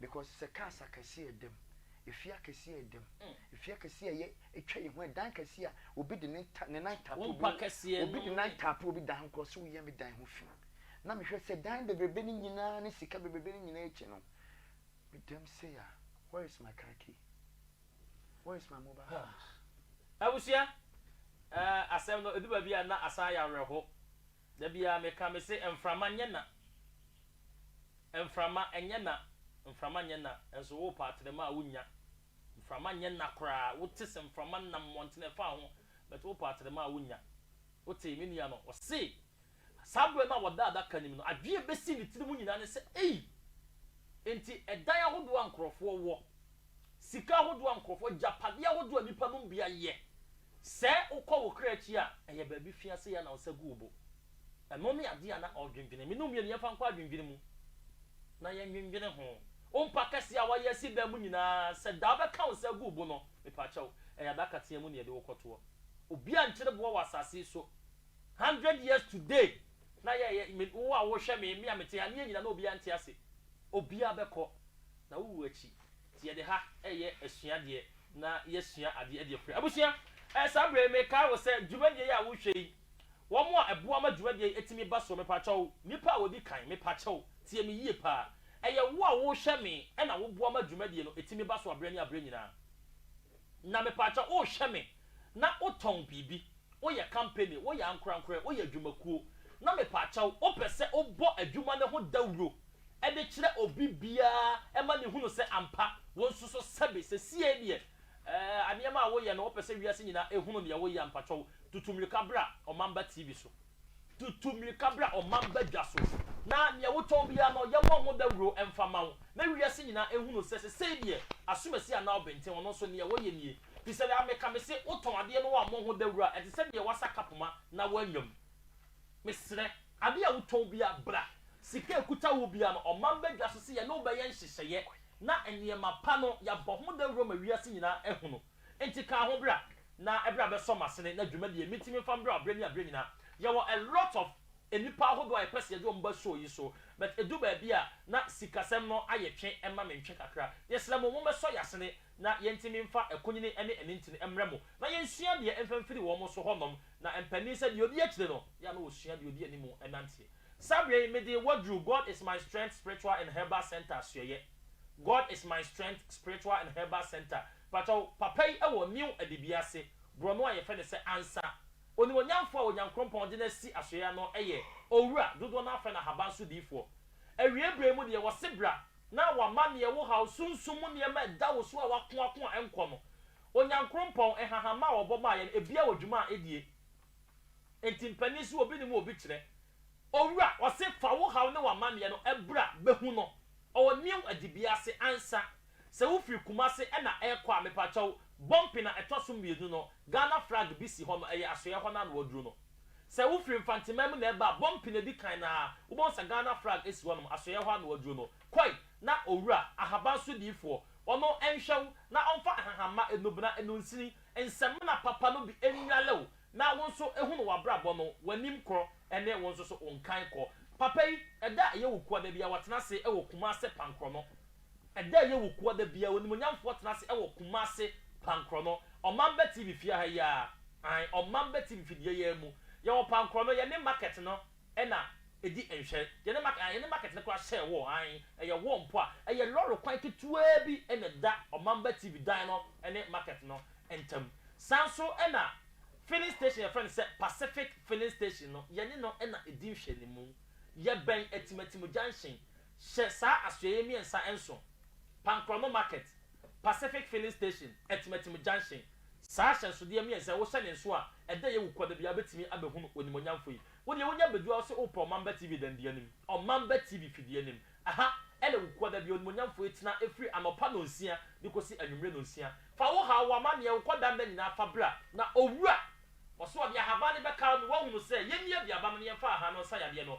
because sɛ cars akɛseɛ yɛ dɛm, efie akɛseɛ yɛ dɛm, efie akɛseɛ a ɛyɛ atwa yɛn ho, ɛdan kɛseɛ a obi de ne ne nan tap obi, obi de nan tap obi dan ho kora ɔsɛ woyɛ me dan ho fi, na mehwɛ sɛ dan bebrebe no nyinaa ne sika bebrebe no nyinaa akyi no, me dam sei a, where is my car key? Where is my mobile phone? Abusua, eh, asɛm no ɛdu baabi a na asan ayɛ awerɛho. Da biara me ka me se mframa nyɛ na Mframa nyɛ na Mframa nyɛ na Nso wo pa atrema a wo nnya Mframa nyɛ na koraa Wo te se mframa nam mmɔntene ɛfa ho But wo pa atrema a wo nnya Wo tee me nua no ɔse Saa berɛ no a ɔda adaka nim no Adwene a ɛbɛsi ne tiri mu nyinaa ne sɛ Ei! Enti ɛdan ahodoɔ a nkorɔfoɔ wɔ Sika ahodoɔ a nkorɔfoɔ Agyapadeɛ ahodoɔ a nnipa nom bi ayɛ Sɛ wokɔ wo kra akyi a, ɛyɛ baabi fi ase yɛ na wo nsa gu wo bo. Ɛno ne adeɛ a na ɔredwendwene. Me ne wo mmienu, yɛmfa nkɔ adwendwene mu na yɛndwendwene ho. Wo mpa kɛseɛ a woayɛ asi dan mu nyinaa, sɛ da a wobɛka wo nsa agu wo bo no, mepakyɛw, ɛyɛ adaka teaa mu na yɛde wo kɔtoɔ. Obiara nkyere boɔ wɔ asase yi so. Hundred years today na yɛyɛ, me, wo a worehwɛ me, me a mete ha, ne yɛn nyinaa na obiara nte ase. Obiara bɛkɔ, na wowu akyi. Nti yɛde ha reyɛ asuadeɛ na yɛasua adeɛ de akura. Abusua, ɛɛ saa berɛ yi mekae wo sɛ dwumadie yi a wohwɛ yi, wɔn a ɛboa ma dwumadie yi tumi ba soɔ, mepakyɛ wo, nnipa a wɔdi kan, mepakyɛ wo, tie me yie paa. Ɛyɛ wo a wohwɛ me na woboa ma dwumadie no tumi ba so aberɛ ne aberɛ nyinaa. Na mepakyɛ wo, wohwɛ me na wotɔn biribi, woyɛ kampani, woyɛ ankorankorɛ, woyɛ adwumakuo, na mepakyɛ wo, wopɛ sɛ wobɔ adwuma no ho dawuro de kyerɛ obi biara ma no hunu sɛ ampa wo nso so sɛbe sesiei deɛ eh, aneɛma a woyɛ no wopɛ sɛ wiase nyinaa ehunu neɛ woyɛ ampa kyɔw tutu mmirika bra ɔmamba TV so. Tutu mmirika bra ɔmamba dwa so na neɛ wotɔn biara no yɛmmɔ ho dawuro mfa ma wo na wiase nyinaa ehunu sɛ sesei deɛ asomasi anaa ɔbenten ɔno nso neɛ woyɛ nie fisɛ daa meka mese wotɔn adeɛ no woammɔ ho dawuro a ɛte sɛ deɛ woasa kapoma na woanwam. Mesrɛ. Ade a wotɔn biara, bra, sika a ɛkuta wo biara no, ɔman badwa so sɛ yɛne wo bɛyɛ nhyehyɛeɛ na nneɛma pa no, yɛabɔ ho dawuro ma wiase nyinaa ahunu. Enti ka ho bra na ɛberɛ a bɛsɔ m'asene na dwuma deɛ mɛtumi mfa mbrɛ wo aberɛ ne aberɛ nyinaa. Yɛwɔ a lot of nnipa ahodoɔ a yɛpɛ sɛ yɛde wɔn ba show yi so but ɛdu baabi a na sikasɛm no ayɛ twe ma mentwe kakra. Yɛsrɛ mo mommɛsɔ yɛn asene na yɛntimi mfa ɛkonyini ne anintini mmrɛ mo, na yɛnsua deɛ mfa mfiri wɔn so hɔ nom, na mpanin sɛ deɛ ɔdi akyire no, yɛ a na ɔsua deɛ ɔdi anim nanteɛ. Saa berɛ yi, mede Waduru, God is My Strength Spiritual and Herbal Centre asoɛeɛ, God is My Strength Spiritual and Herbal Centre, pakyɛw, papa yi wɔ New Adibea ase, borɔno a yɛfrɛ no sɛ Ansa. Onimuonyamfoɔ a Onyankrompɔn de no asi asoɛeɛ no yɛ Owura, dodoɔ no ara frɛ no Ahaban so diifoɔ. Awieeɛ berɛ yi mu deɛ, wɔse bra, na wama nea ɛwo haw sunsum mu nneɛma a ɛda wo so a wako ako a ɛnkɔ no. Onyankrompɔn, nhahama a ɔbɔ maa yɛn, ebia wɔ dwuma a edie. Enti mpanin so obi ne mu obi kyerɛ. Owura, ɔse fa wo haw ne w'amanneɛ no bra bɛhu no. Ɔwɔ new adibea ase ansa. Sɛ wo firi Kumasi na ɛrekɔ a, mepakyɛw, bɔmpen a ɛtɔ so mmienu no, Ghana flag bi si hɔ no, ɛyɛ asoɛɛ hɔ no a na waduro no. Sɛ wo firi mfanteman mu na ɛba a bɔ mpene di kan na wobɛhu sɛ Ghana flag si hɔ nom, asoɛeɛ hɔ ano aduro no, kɔe na owura, ahaban so diifoɔ, ɔno nhwɛ wo na ɔmfa nhahamma, nnubena, nnunsini, nsɛmena papa no bi nnwale wo na wo nso hunu w'abrabɔ no, w'anim kɔ ne wo nso so wo nkan kɔ. Papa yi, ɛda a ɛyɛ wo kua da biara, watena ase wɔ Kumase Pankorɔ no. Ɛda a ɛyɛ wo koa da biara, Onimuonyamfoɔ tena ase wɔ Kumasi Pankorɔ no Ɔmamba TV fie ha yi ara, ae, Ɔmamba TV fidie yi ara mu. Yɛwɔ Pankorɔ no, yɛne market no na ɛdi nhwɛ. Yɛne market, ae, yɛne market no koraa hyɛɛ wall, ae, ɛyɛ wall mpo a, ɛyɛ lɔre kwan ketewa bi na ɛda Ɔmamba TV dan no ne market no ntam. Saa nso na filling station a yɛfrɛ no sɛ Pacific Filling Station no, yɛne no na ɛdi nhwɛanimu. Yɛbɛn Atim Atim Junction, Hyɛ saa asoɛeɛ mmiɛnsa nso, Pankrɔmo Market, Pacific Filling Station, Atimatim Junction. Saa ahyɛnsodeɛ mmiɛnsa yi, wohyɛ ne nso a, ɛdɛ yɛ wo kua da biara wobɛtumi abɛhunu Onimuonyamfoɔ yi. Wo deɛ wonya bɛduru a wo se wopɛ Ɔmamba TV dɛn deɛ anim? Ɔmamba TV fidie anim. Ɛha na wo kua da biara Onimuonyamfoɔ yi tena ɛfiri anɔpa nɔnsia de kɔsi anwummerɛ nɔnsia. Fa wo haw, wo amanneɛ, wo kɔda nna nyinaa fa bra na Owura. Ɔse ɔde ahaban no bɛkaw me, woahunu sɛ yɛnni aduaba no na yɛmfa ahan no nsa yadeɛ no,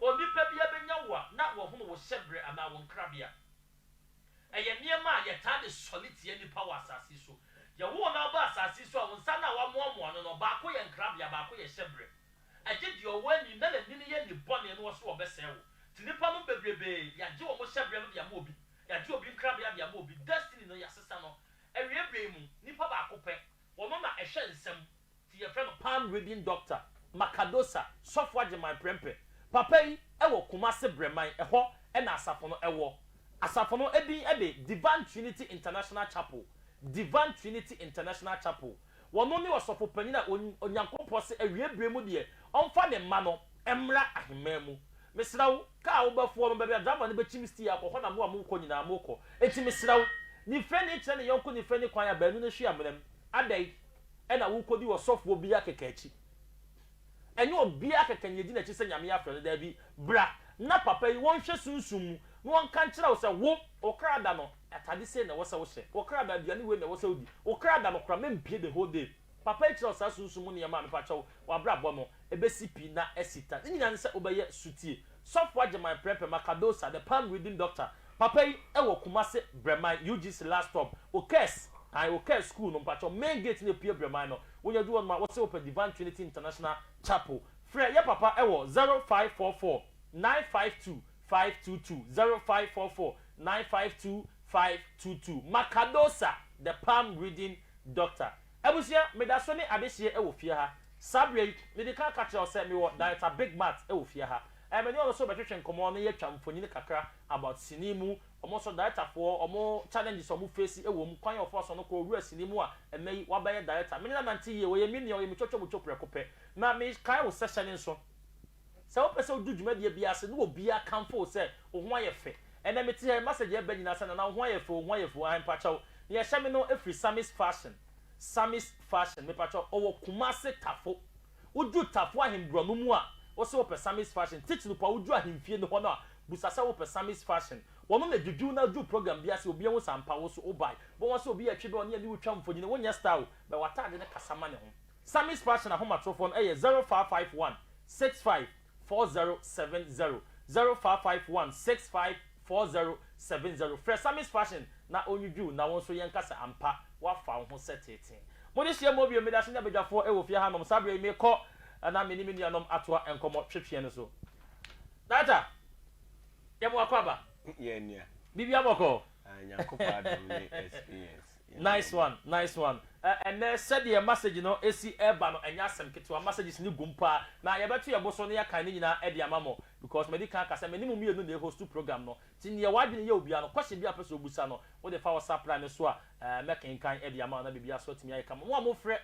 Onipa biara bɛnya wo a na wahunu wo hyɛberɛ anaa wo nkrabea. Ɛyɛ nneɛma a yɛtaa de sɔre tia nnipa wɔ asase yi so. Yɛwo wo na woba asase yi so a, wo nsa no a woamoamoa no no, baako yɛ nkrabea, baako yɛ hyɛberɛ. Ɛgye deɛ ɔwɔ ani na n'ani no yɛ ani bɔne na ɔsoro ɔbɛsɛe wo. Nti nnipa nom bebrebee, yɛagye wɔn hyɛberɛ no de ama obi, yɛagye obi nkrabea de ama obi. Destiny no, yɛasesa no. Awieeɛ berɛ yi mu, nipa baako pɛ, ɔno na ɛhwɛ nsɛm. ti yɛfrɛ no Palm Reading Doctor Macadosa Sɔfo Agyeman Prɛmpɛ. Papa yi wɔ Kumase Brɛman, ɛhɔ na asafo no wɔ. Asafo no din de Divine Trinity International Chapel, Divine Trinity International Chapel. Wɔno ne Ɔsɔfo Panyin a Onyankopɔ se awiei bere mu deɛ ɔmfa ne mma no mmra aheman mu. Mesrɛ wo, kaa a wobɛfoɔ no, baabi a driver no bɛkyim stii akɔ hɔ na mo a mo rekɔ nyinaa mokɔ. Enti mesrɛ wo, nifirani kyerɛ ne yɔnko nifirani kwan a baanu no ahyia mena mu. Adɛn? ɛna wokɔdi ɔsɔfoɔ biaa kɛkɛ akyi ɛnyɛ obiaa kɛkɛ na yɛdi nakyi sɛ Nyame afrɛ no daabi bra na papa yi wɔnhwɛ sunsum mu na wɔnka nkyerɛ wo sɛ wo wo kra da no atade sei na ɛwɔ sɛ wohyɛ wo kra da aduane wei na ɛwɔ sɛ wodi wo kra da no kora mempie the whole day papa yi kyerɛ wo saa sunsum mu nneɛma a mepakyɛw wabrabɔ no Ebesi pi na asi ta. Ne nyinaa ne sɛ wobɛyɛ sotie. Sɔfo Agyeman Prɛpɛma Cardosa, the palm reading doctor, papa yi wɔ Kumasi Brɛman, UGC last stop. Wo kɛs, ae wo kɛs school no mpakyɛw main gate na epue Brɛman no. Wonya du hɔ nom a wose wopɛ Divine Trinity International Chapel. Frɛ yɛ papa wɔ zero five four four nine five two five two two, zero five four four nine five two five two two. Ma Cardosa, the palm reading doctor. Abusua, meda so ne adehyeɛ wɔ fie ha. Saa berɛ yi, mede kan ka kyerɛ wo sɛ mewɔ Director Big Mat wɔ fie ha. Ɛyɛ me ne ɔno nso rebɛtwetwe nkɔmmɔ na yɛatwa mfonini kakra about sini mu, wɔn nso Directorfoɔ, wɔn challenges a wɔn face wɔ mu, kwan a wɔfaa so no kɔɔ wura sini mu a ɛnnɛ yi wabɛyɛ Director. Me ne no anante yie, ɔyɛ me nua, ɔyɛ me twatwa mu two prɛko pɛ. Na mekae wo session nso. Sɛ wopɛ sɛ wodu dwumadie biara ase na obiara kamfo wo sɛ wo ho ayɛ fɛ. Ɛnɛ mete ha yi message ɛba nyinaa sɛ Nana wo ho ayɛ fɛ o, wo ho ayɛ fɛ o, ae mpakyɛw. Nea ɛhyɛ me no firi Samis Fashion, Samis Fashion, mepakyɛw ɔwɔ Kumasi Tafo. Wodu Tafo Ahenbura no mu a wose wopɛ Samis Fashion, Titnup a wodu Ahemfie no hɔ no a busa sɛ wopɛ Samis Fashion. Wɔn na ɛdwidwi wo na wodu program biara ase obiara hu sɛ ampa wo nso wobae. Wobɛhu sɛ obi retwe bɛ ɔne ɛne wo twa mfonyini, wonyɛ style o, bɛ w'ataade no kasa ma ne ho. Sammy's Passion ahomatrofoɔ no yɛ 0551 65 4070, 0551 65 4070. Frɛ Sammy's Passion na ɔnnwudwo wo na wo nso yɛnka sɛ ampa woafa wo ho sɛ teetee. Mo dehyia mu bio, medaso nya badwafoɔ wɔ fie ha nom, saa berɛ yi merekɔ na me ne me nuanom atoa nkɔmmɔ twetweɛ no so. Data, yɛmoa kɔ aba? Yɛn nua. Biribiara bɔkɔɔ? Aah, Nyankopɔn adom ne experience. Nice one nice one Ɛnnɛ sɛdeɛ masage no si reba no ɛnyɛ asɛm ketewa masages no gum paa na yɛbɛto yɛn bo so na yɛakan ne nyinaa de ama mo because madi kan aka sɛ me ne mo mmienu na ɛhostu program no nti deɛ w'adwene yɛ wo biara no question biara a wopɛ sɛ wobusa no wode fa wo sapra no so a mɛkenkan de ama wo na biribiara nso atumi ayɛ kama mo a mofrɛ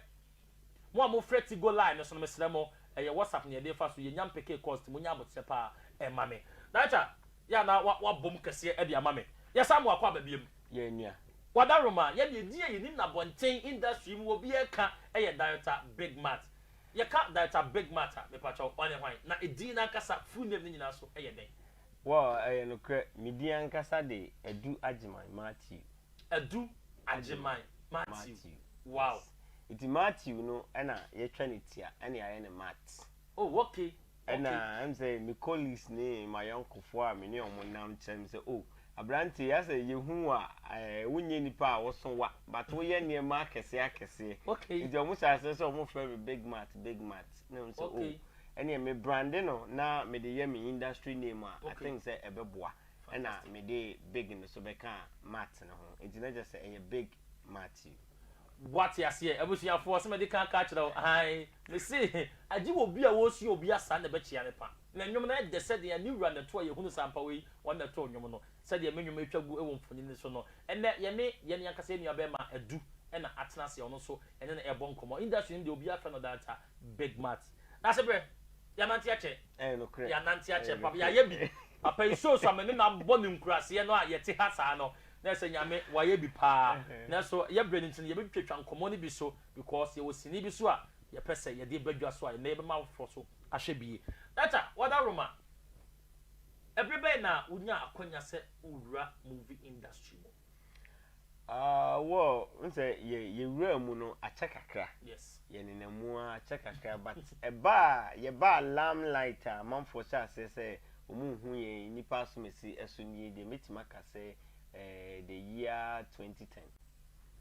mo a mofrɛ Tigo line no so no mesrɛ mo ɛyɛ WhatsApp na yɛde refa so yɛnya mpekee cost monya aboterɛ paa ɛma me Nacha Yɛ a na wabom kɛseɛ de ama me. Yɛ saa ma wakɔ aba biam. Yɛ nua. Wadaroma, yɛ deɛ din a yɛnim no abɔnten industry mu obiara ɛka yɛ Director Big Mat. Yɛka Director Big Mat a, mepa kyɛw, ɔne hwan? Na edin no ankasa, full name no nyinaa nso yɛ dɛn? Wow, ɛyɛ nokorɛ, me din ankasa de Adu Agyeman Matthew. Adu Agyeman Matthew, wow. Yes, nti Matthew no na yɛatwa no tia ɛne ayɛ no Mat. Oh, okay. Ɛna ɛm sɛ me colleagues ne m'ayɔnkofoɔ a me ne wɔn nam kyerɛ me sɛ, Oh, aberanteɛ yi, asɛ yɛhu wo a, ɛɛ, wonyɛ nipa a woso wa, but woyɛ nneɛma akɛseɛ akɛseɛ. Okay. Nti wɔn hyɛɛ aseɛ sɛ wɔfrɛ me Big Matt, Big Matt. Na mehu sɛ, Okay. Oh, ɛneɛ me brande no na mede yɛ me industry name a, Okay. I think sɛ ɛbɛboa. Fantastic. Ɛna mede Big no so bɛkaa Matt no ho. Nti na kyerɛ sɛ ɛyɛ Big Matthew. Woate aseɛ abusuafoɔ sɛ mede kan aka akyerɛ wo aane mese agye wɔ obi a ɔresua obi asaa na ɛbɛkyea ne pa na nnwom no ɛdɛ sɛdeɛ ne wura na ɛtoɔ yɛhunu sɛ ampa wei wɔn na ɛtoo nnwom no sɛdeɛ me nnwom ɛtwa gu wɔ mfonini no so no ɛnnɛ yɛne yɛne ankasa yɛn nua bɛɛma Adu na atena aseɛ ɔno nso yɛne no ɛbɔ nkɔmmɔ industry no deɛ obiara frɛ no dancer Big Mat. Dase berɛ. Yɛanante akyɛ. Ɛyɛ nokorɛ. Yɛanante akyɛ papa. Yɛayɛ bi. Papa yi show so a me ne no abɔ ne nkuraseɛ no a yɛte ha saa no, na ɛsɛ Nyame wayɛ bi paa nanso yɛ brɛ no nti no yɛbɛtwatwa nkɔmmɔ no bi so because yɛwɔ sini bi so a yɛpɛ sɛ yɛde ba dwa so a ɛnnɛ yɛbɛma afoforɔ so ahwɛ bi yie. Data, Wada Roma, ɛberɛ bɛn na wonyaa akwanya sɛ wowura movie industry mu? Ah, well, n sɛ yɛ yɛwuraa mu no akyɛ kakra, Yes. yɛnenam mu ara akyɛ kakra but ɛbaa yɛbaa limelight a amanfoɔ hyɛɛ aseɛ sɛ Wɔnhu yɛn nnipa asomasi so nie deɛ, mɛtumi aka sɛ eh, the year 2010.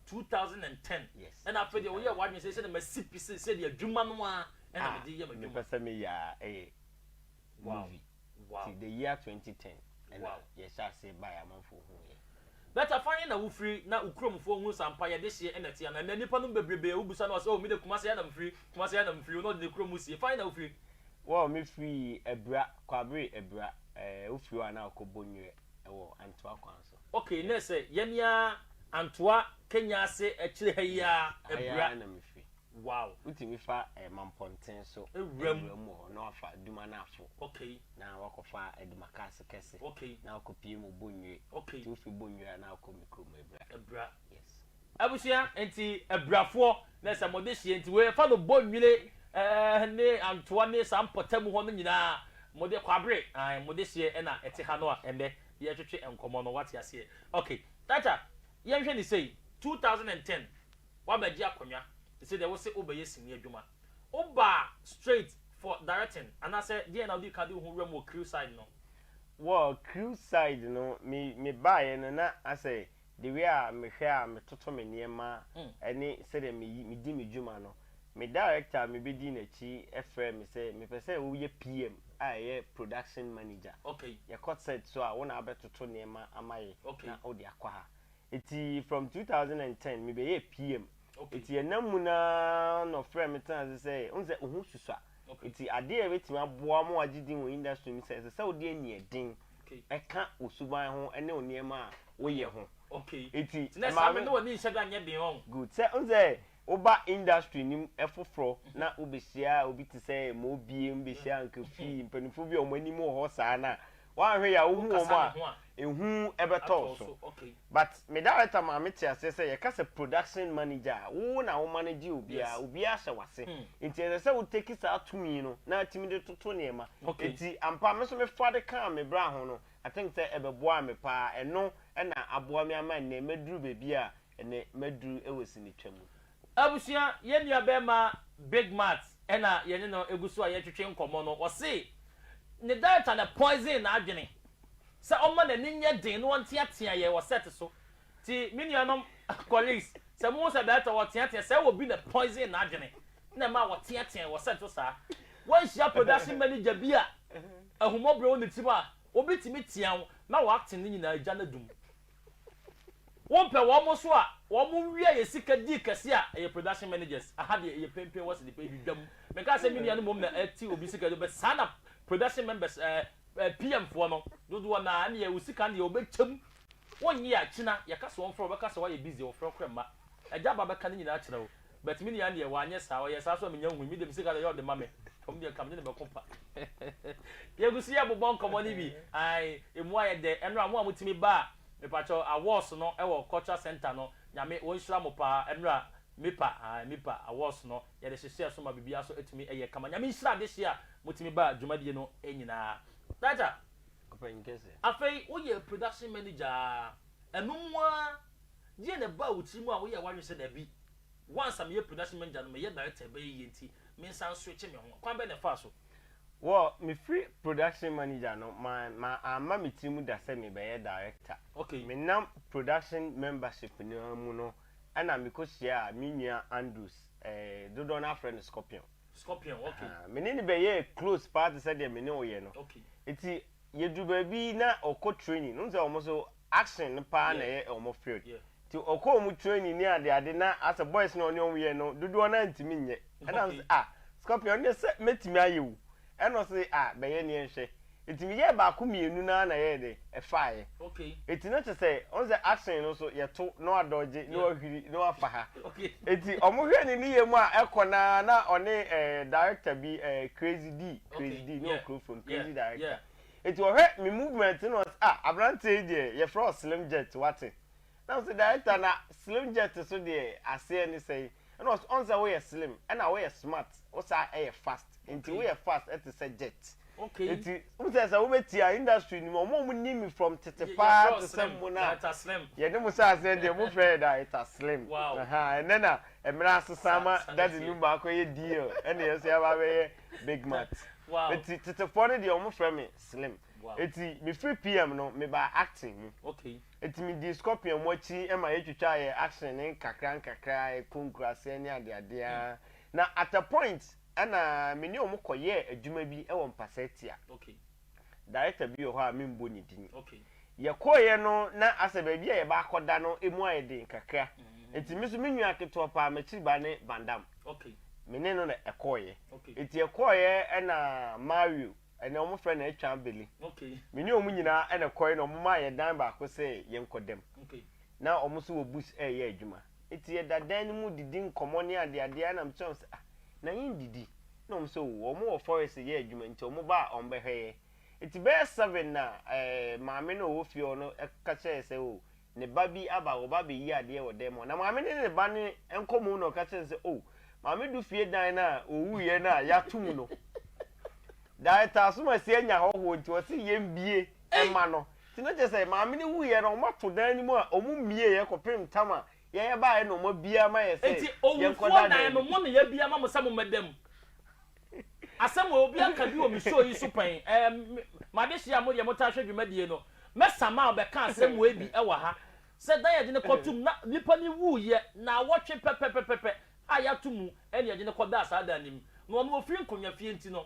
2010? Yes. Ɛna afei deɛ woyɛɛ w'adwene sɛ ɛsɛ na masi pi sɛ sɛdeɛ adwuma no ara ɛna mede yɛ m'adwuma. Mepɛ sɛ meyɛ a ɛyɛ movie. Wow. Ti the year 2010 ɛna yɛhyɛ aseɛ baeɛ amanfoɔ huu yɛn. But afa he na wofiri na wo kuromfoɔ hunu sɛ ampa yɛde hyeɛ ɛna ɛte anaa? Ɛnɛ nnipa nom bebrebe a wobisa no a ɔse oh mede Kumasi ha na mefiri, Kumasi ha na mefiri, na ɔde ne kurom sie. Fa he na wofiri? Wo a me firi abira kwabere abira eh wo firi hɔ a na wokɔ bɔ nwerɛ wɔ antoa kwan so. Ok nɛ sɛ yɛ ne ara antoa kenya ase akyire ha yi ara abira. Ɛha yi ara na me firi. Wow. Wo tumi fa eh mampɔnten so awura mu wɔ hɔ na wafa aduma no afo ok na wakɔ fa aduma cars kɛse ok na wakɔ pie mu bɔ nwire ok nti wo firi bɔ nwire a na wokɔ me kuro mu abira abira yes. Abusua nti abirafoɔ na sɛ mode hyeɛ nti wei fa no bɔ nwire eh ne antoa ne saa mpɔtam hɔ no nyinaa mode kwabere ae mode hyeɛ ɛna ɛte ha no a ɛnɛ yɛretwetwe nkɔmɔ no wate aseɛ ok Tata yɛnhwɛ ne sei two thousand and ten wabɛgye akonnwa te sɛ deɛ wose wobɛyɛ sini adwuma wobaa straight for directing anaasɛ deɛn na wodii kan de wo ho wuram wɔ crew side no? Wɔ crew side no me me baeɛ no na asɛ The way a mehwɛ a metoto me nneɛma ne sɛdeɛ meyi medi me dwuma no, me director a mebɛdii n'akyi frɛɛ me sɛ, Mepɛ sɛ woyɛ PM a ɛyɛ production manager. Yɛkɔ set so a, wo na wobɛtoto nneɛma ama yɛn na wode akɔ ha. Enti from two thousand and ten mebɛyɛɛ PM. Enti yɛnam mu no ara na ɔfrɛɛ me tenaa ase sɛ, wohu sɛ wo ho susua, enti adeɛ a ɛbɛtumi aboa wo ma woagye din wɔ industry mu sɛ, ɛsɛ sɛ wode aniɛden ɛka wo suban ho ne wo nneɛma a woyɛ ho. Enti ɛma me. Good. Sɛ wohu sɛ woba industry no mu foforɔ na wobɛhyia obi te sɛ Mobiem, bɛhyia Nkafi, mpanimfoɔ bi a wɔn anim wɔ hɔ saa no a, woanhwɛ yie a wohu wɔn a, ehu bɛtɔ wo so. But me director maa me te aseɛ sɛ yɛka sɛ production manager a, wo na wo manage obiara, Yes. obiara hyɛ w'ase. Nti ɛsɛ sɛ wo take saa tumi no na atumi de toto nneɛma. Okay. Nti ampa me nso me fa de kaa me bra ho no, I think sɛ ɛbɛboaa me pa ara. Ɛno na aboa me ama nnɛ maduru baabi a ɛnnɛ maduru wɔ sinitwa mu. Abusua, yɛn nuabɛɛma Big Matt na yɛne no gu so a yɛretwetwe nkɔmmɔ no, ɔse ne data na poison n'adwene sɛ ɔmma n'ani nyɛ den na ɔnteatea yɛn wɔ set so. Nti me nuanom colleagues, sɛ mohu sɛ data ɔreteatea sɛ wɔ bi na poison n'adwene na ɛma ɔteatea wɔ set so saa, wanhyia production manager bi a ahummɔborɔ wɔ ne tirim a, ɔbɛtumi tea wo na w'acting no nyinaa agya no adum. Wompɛ wɔn mo so a wɔn mo wia yɛ sika dii kɛse a ɛyɛ production managers aha deɛ ɛyɛ penpen wɔ sede pɛ ɛdi dwam menkaa sɛ menua no mmom na ɛte obi sika do bɛ saa na production members ɛɛ ɛɛ PM foɔ no dodoɔ naa ɛneɛ wo sika no deɛ wɔbɛkyɛm wonye a kyina yɛka sɛ wɔmfrɛ wo bɛka sɛ woayɛ busy wɔmfrɛ wo korɛ mma agya ba bɛka ne nyinaa kyerɛ wo But me nua deɛ wanyɛ saa, ɔyɛɛ saa so a menya nhui, me deɛ me sika deɛ yɛ ɔde ma me, fam deɛ nka me ne no bɛko pa. Yɛgu so yɛ bobɔ nkɔmmɔ no bi, ae, emu ayɛ dɛ, ɛnora mo a motumi ba a, mepakyɛw, awards no wɔ cultural centre no, Nyame ɔnhyira mo paa, ɛnora, MIPA, ae, MIPA awards no, yɛde hyehyɛɛ so ma biribiara so atumi ayɛ kama, Nyame nhyira adehyeɛ a motumi ba dwumadie no nyinaa. Dada, afei woyɛ production manager a, ɛno mu ara. Deɛn na ɛbaa wo tirim a woyɛɛ w'adwene sɛ dabi, once a meyɛ production manager no, meyɛ director a ɛbɛyɛ yie nti mensan nswitche me ho? Kwan bɛn na ɛfaa so? Well, mefiri production manager no, ma ma amma me tirim da sɛ mebɛyɛ director. Okay. Menam production membership no ara mu no ɛna mekɔhyiaa me nua Andrews, eh, dodoɔ no ara frɛ no Scorpion. Scorpion, okay. Ahaa, me ne no bɛyɛɛ close paa te sɛ deɛ me ne wo yɛ no. Okay. Nti yɛduru baabi na ɔkɔ training, wohu sɛ wɔn nso action no paa na ɛyɛ wɔn field nti ɔkɔɔ wɔn training ne ade ade na asɛ boys no a ɔne wɔn yɛ no dodoɔ no ara ntumi nyɛ ɛna me sɛ ah scorpion ɔne sɛ mɛtumi ayɛ o ɛna ɔse ah bɛyɛ neɛ nhwɛ nti meyɛɛ baako mmienu no ara na ɛyɛɛ dɛ ɛfaeɛ nti na kyɛ sɛ ɔhu sɛ action no nso yɛto na wadɔgye na wahwiri na wafa ha nti wɔn hwɛ ne ne yɛ mu a ɛkɔ no ara na ɔne ɛɛ director bi ɛɛ crazy d crazy d ne ɔkurofo no crazy director. Enti ɔhwɛ me movement na ɔse ah abranteɛ yi deɛ yɛfrɛ wo slim jet wate? Na mese director na slim jet so deɛ aseɛ ne sɛn? Ɛna ɔse ɔhu sɛ woyɛ slim ɛna woyɛ smart wo san yɛ fast enti woyɛ fast te sɛ jet enti wohu sɛ sɛ wobɛtia industry no mu ɔmo a ɔmo nim me from tete paa te sɛ mo no a yɛne mo hyɛɛ aseɛ deɛ mo frɛ yɛ director slim ahaa ɛnɛ na mmerɛ asesa ama daddy no mu akɔyɛ deal ɛna yɛn nso yɛaba abɛyɛ Big Mat. Wow. Eti tetefoɔ no deɛ wɔn frɛ me Slim. Wow. Eti me firi PM no me baa acting mu. Okay. Eti me dii Scorpion mu akyi ma yɛ twitwa yɛ action ne nkakra nkakra yɛ ko nkuraseɛ ne adeadeɛ. Mm. Na at a point ɛna me ne wɔn kɔ yɛɛ adwuma bi ɛwɔ Mpasatia. Okay. Director bi wɔ hɔ a memmɔ ne din. Yɛkɔeɛ no na asɛ baabi a yɛba akɔda no mu ayɛ den kakra nti me nso me nua ketewa paa m'akyiribaa ne Van Dam. Me ne no na ɛkɔeɛ. Nti yɛkɔeɛ ɛna Mario ɛnɛ wɔn frɛ no Atwam Billy. Me ne wɔn nyinaa ɛna ɛkɔeɛ na wɔn maa yɛn dan baako sɛ yɛnkɔda mu. Na wɔn nso wɔ bus ɛreyɛ adwuma. Enti yɛda dan no mu didi nkɔmmɔ ne adeadeɛ a na mebisa wɔn sɛ, Ah, na yɛndidi? Na wɔn sɛ, Oh, wɔwɔ forest reyɛ adwuma nti wɔba a wɔbɛhwɛ yɛn. Enti bɛyɛ seven na maame no a ɔwɔ fie hɔ no ka kyerɛɛ yɛn sɛ, Oh, ne ba bi aba, ɔreba abɛyi adeɛ wɔ dan mu hɔ. Na maame no ne ne ba no nkɔmmɔ mu na ɔka kyerɛɛ no sɛ, Oh, maame du fie dan no a ɔwuiɛ no a yɛato mu no, Director Asomasie anya hɔhoɔ nti ɔse yɛmbue mma no. Nti na kyerɛ sɛ maame no wuiɛ no wɔato dan no mu a wɔmmieeɛ kɔpem tam a yɛyɛ baeɛ na wɔabue ama yɛn sɛ Nti owufoɔ yɛnkɔda dan dan no no mu. mo na yɛabue ama mo sɛ mommɛda mu. Asɛm wei obiara ka bi wɔ me show yi so pɛn, ɛɛ me m'adehyeɛ a mo deɛ motaa hwɛ dwumadie no, mɛ Samao bɛka asɛm wei bi wɔ ha sɛ dan a yɛde no kɔtom na nipa no wuiɛ naawɔtwe pɛpɛpɛpɛpɛ a yɛato mu ɛna yɛde no kɔdaa saa dan no mu na ɔno ɔfiri Nkonwa fie nti no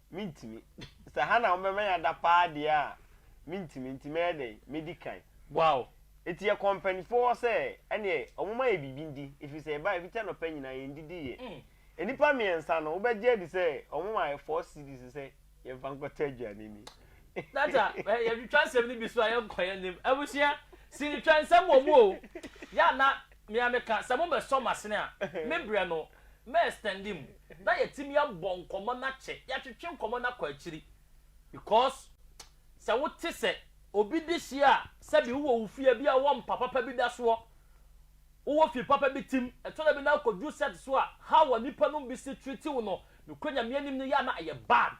Mentumi. Sɛ ha na wɔbɛma yɛn ada paa deɛ a, mentumi. Nti mɛyɛ dɛn? Mɛdi kan. Wow! Nti yɛkɔɔ mpaninfoɔ hɔ sɛ ɛneɛ wɔmma yɛn biribi ndi, ɛfiri sɛ yɛbaeɛ fiti anɔpa nyinaa yɛndidiiɛ. Nnipa mmiɛnsa no, wobɛgye adi sɛ wɔmaa yɛn four cedis sɛ yɛmfa nkɔtɔ aduane ni. Dada, yɛtwitwa nsɛm no bi so a yɛnkɔ yɛn anim. Abusua, sinitwa nsɛm wɔ mu o. Yɛ a na me ara meka, sɛ mobɛsɔ m'asene a, me brɛ no. mɛ extend mu na yɛtumi abɔ nkɔmmɔ no akyɛ, yɛatwetwe nkɔmmɔ no akɔ akyiri because sɛ wote sɛ obi de hyeɛ a sɛbi wowɔ wo fie bi a wowɔ mpa papa bi da soɔ, wowɔ fie papa bi tim, ɛtɔ da bi na akɔduru set so a how a nipa nom bi si treat wo no nokorɛ Nyame anim no yɛ a na ɛyɛ bad.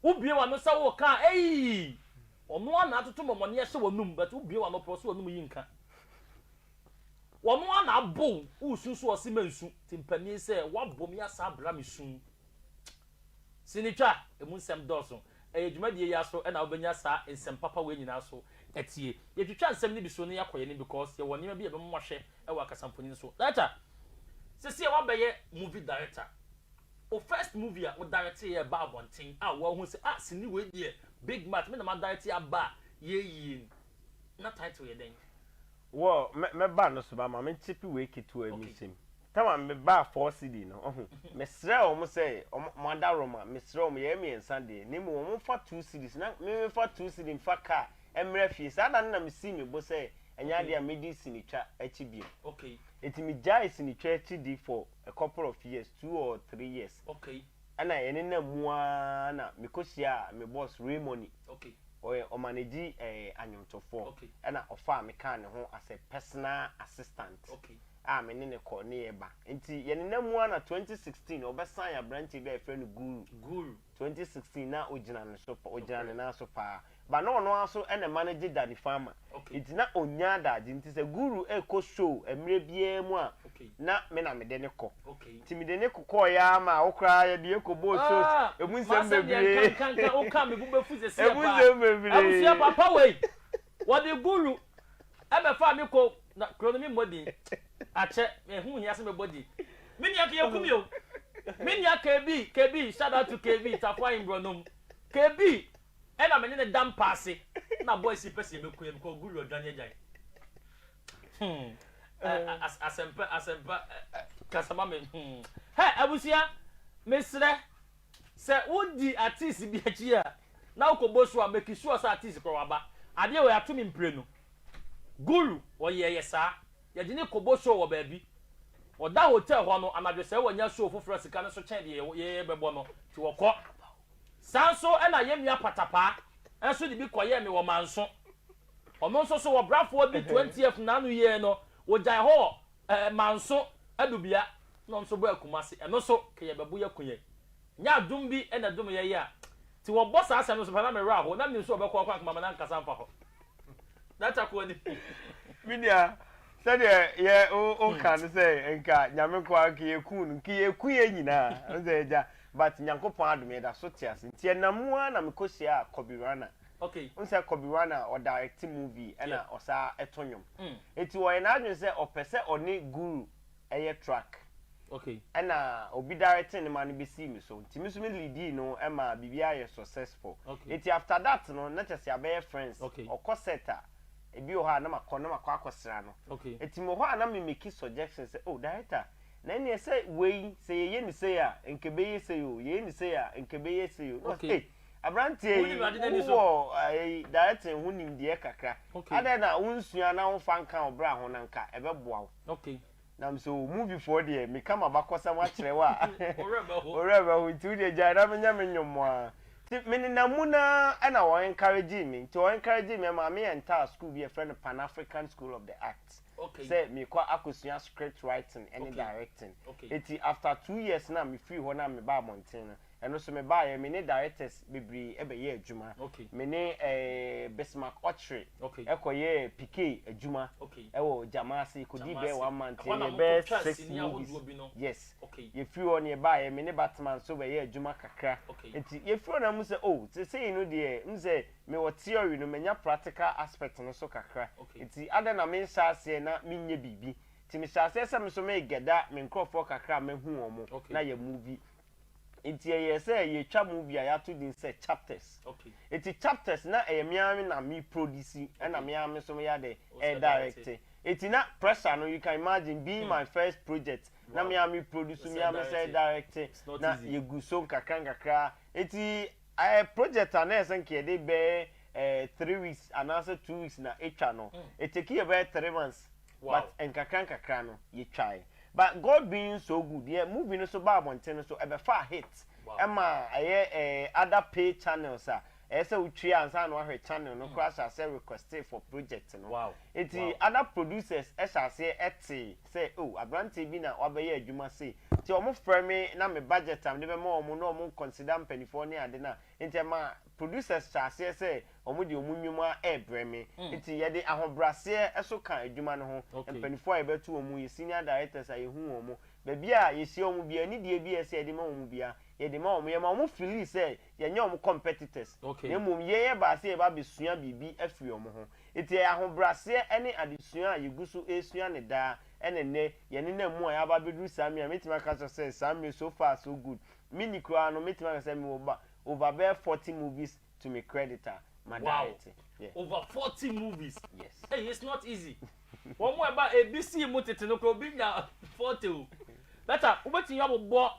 Wobue w'ano sɛ woreka a eii ɔno ara na atoto mmɔmɔne ahyɛ w'anum but wobue w'ano pɛ ɔsɛ w'anum yi nka. Wɔn ara na abow wo nsu so ɔse mansu timpani sɛ woabom yi asan abra me su sini twa emu nsɛm dɔɔso ɛyɛ dwumadie yi ara so na wobɛnya saa nsɛm papa wei nyinaa so atie yɛtwitwa nsɛm no bi so na yɛakɔ yɛn anim because yɛwɔ nneɛma bi a ɛbɛma moahwɛ wɔ akasamfonin so director sesie woabɛyɛ movie director wo first movie a wo director yɛ ɛba abɔnten a woahu sɛ ah sini wei deɛ big match me na ma director aba a yɛyie ni Na title yɛ dɛn? Wɔ mɛ mɛ ba no so ba ma me nkye pi wei ketewa yi me sɛm time a me baa four cedi no ɔho me srɛ wɔn sɛ wɔn wɔn ada wrɔ ma me srɛ wɔn yɛ yɛ miɛnsa deɛ na mmom wɔn nfa two cedis na me me nfa two cedi nfa car ɛmrɛ fie saa da no na me sii me bo sɛ ɛnyɛ adeɛ a me di sini twa akyi biom eti me gyae sini twa akyi di for a couple of years two or three years. Ɛna yɛnenam mu ara na mekɔhyiaa me boss Ray Money. Ɔyɛ ɔmanagyi anwomtofoɔ. Ɛna ɔfaa me kaa ne ho as a personal assistant a me ne no kɔ ne yɛ ba. Nti yɛnenam mu ara na 2016 ɔbɛ sign abranteɛ bi a yɛfrɛ no Guru. 2016 na ɔgyina ne so, ɔgyina ne nan so paa. But na ɔno ara so na ɛma no gye Danny Pharma. Nti na ɔnnya adagye. Nti sɛ Guru rekɔ show mmerɛ biara mu a, na me na mede no kɔ. Nti mede no kokɔeɛ ara maa wo koraa yɛde yɛn kɔbɔɔ shows. Ɛmu nsɛm bebree. Ɛmu nsɛm bebree. Ɛna me ne no da mpa ase na boys yi pɛ sɛ yɛbɛku yɛn because Gully ɔdwan yɛagyae hmm ɛ asɛmpa asɛmpa kasa ma me hmm hɛ abusua mesrɛ sɛ wodi artist bi akyi a na wokɔbɔ so a make sure sɛ artist korɔ waba adeɛ wei ato me mprenu Gully ɔyɛɛ yɛ saa yɛde no kɔbɔ show wɔ baabi ɔda hotel hɔ no anadwo sɛ wanya show foforɔ a sika no so kyɛn deɛ yɛbɛbɔ no nti wɔkɔ. Saa nso na yɛn nua Patapaa nso de bi kɔyɛɛ me wɔ Manso. Ɔno nso so ɔbrafoɔ bi 20th n'ano yie no ɔgyae hɔ wɔ eh, Manso adubea na ɔno nso bɔɔ Kumasi. Ɛno nso ka yɛbɛbo yɛ ko yɛn. Nyɛ adom bi na ɛdom yɛn yi a. Nti wɔbɔ saa asɛm no nso pɛ na me werɛ ahow na menim sɛ wɔbɛkɔ ɔkwan koma ma no ankasa mfa hɔ. Me nua, sɛdeɛ yɛ o ka no sɛ nka nyame nko ara nka yɛku no nka yɛku yɛ nyinaa ɔsɛ agya but nyankopɔn adom yɛda so te ase nti ɛnam mu ara na mekɔ hyia Kobe Rana okay nsɛ Kobe Rana ɔ direct movie ɛna ɔsaa ɛto nnwom nti ɔyɛ n'adwene sɛ ɔpɛ sɛ ɔne guru ɛyɛ truck ɛna obi directing ne ma no bɛsii me so nti me so me leadii no ɛma biribiara yɛ successful nti after that no na kyerɛ sɛ yɛabɛyɛ friends ɔkɔ set a ebi wɔ hɔ a na makɔ na makɔ akɔsra no nti mewɔ hɔ a na me make suggestion sɛ oh director na ɛneɛ sɛ wei sɛ yɛyɛ ne sei a nka ɛbɛyɛ sei o yɛyɛ ne sei a nka ɛbɛyɛ sei o na ɔsɛ eh aberanteɛ yi wowɔ ɛyi directing ho nimdeɛ kakra adɛn na wonsua na womfa nka wo bra ho na nka ɛbɛboa wo Okay. Na me sɛ o movie foɔ deɛ meka m'abakɔsɛm akyerɛ wo a Wo werɛ bɛho. wo werɛ bɛho nti wodeɛ gyae na menyɛ me nnwom mo ara. Nti menenam mu no ara ɛna wɔn encouragee me nti wɔn encouragee me ɛmaa me entered school bi a yɛfrɛ no Pan African School of the Arts Okay. sɛ merekɔ akɔsua script writing ɛne Okay. directing. Okay. Nti after two years no a me firii hɔ no a mebaa abɔnten no Ɛno so mebaaeɛ, me ne directors bebree bɛyɛɛ adwuma. Me ne ɛɛ Bismarck Ochre kɔyɛɛ PK adwuma wɔ Gyamaase, yɛkɔdii bɛyɛ one month, yɛyɛɛ bɛyɛ six movies. Yes. Yɛfiri hɔ no yɛbaaeɛ, me ne Batman nso bɛyɛɛ adwuma kakra. Nti yɛfiri hɔ no na mehu sɛ oh, seesei no deɛ, wohu sɛ mewɔ theory no, manya practical aspect no so kakra. Nti adɛn na menhyɛ aseɛ na menyɛ biribi? Nti mehyɛɛ aseɛ sɛ me nso megɛda me nkurɔfoɔ kakra a mahu wɔn na yɛ movie. Enti ɛyɛɛ sɛ yɛretwa movie a yɛato din sɛ Chapters. Enti Chapters na ɛyɛ me ara na meproduce ɛna me ara nso meyɛ dɛ ɛredirecte. Enti na pressure no you can imagine being my first project na me ara meproduce me ara me nsa redirecte na yɛgu so nkakrankakra. Enti ɛyɛ project a na ɛyɛ sɛ nka yɛde bɛyɛ three weeks anaasɛ two weeks na ɛtwa no. Ɛtake yɛn bɛyɛ three months. But nkakra nkakra no yɛtwae. But God being so good yɛ movie no so baa abɔnten no so ɛbɛfaa hit ɛma ɛyɛ eh other pay channels a ɛyɛ sɛ wotua ansa na wahwɛ channel no koraa hyɛ aseɛ requesting for project no nti other producers ɛhyɛ aseɛ ɛtee sɛ oh abranteɛ bi na wabɛyɛ adwuma sei nti wɔn frɛ me na me budget a mede bɛma wɔn na wɔn consider mpaninfoɔ ne ade no a nti ɛma producers hyɛ aseɛ sɛ Wɔde wɔn nnwom ara rebrɛ me. Enti yɛde ahobraseɛ nso ka adwuma no ho. Mpanimfoɔ a yɛbɛto wɔn mu yɛ senior directors a yɛhu wɔn. Baabi a yɛhyia wɔn biara, anidie bi a ɛsɛ sɛ yɛde ma wɔn biara, yɛde ma wɔn. Yɛma wɔn feeli sɛ yɛnyɛ wɔn competitors, na mmom yɛn ɛbaa sɛ yɛreba abɛsua biribi afiri wɔn ho. Enti ɛyɛ ahobraseɛ ne adesua a yɛgu so resua no daa na ɛnnɛ yɛnenam mu a yɛaba abɛduru saa mmerɛ a mɛtumi aka akyerɛ wo sɛ saa mmerɛ yi so far so good. Menni koraa no mɛtumi aka sɛ mewɔ over bɛyɛ 40 movies to me credit a ma diet yeah. over forty movies yes hey it's not easy wɔn mu ɛba ebi sii mu tete no kora obi nya forty o bɛta wobɛtumi abobɔ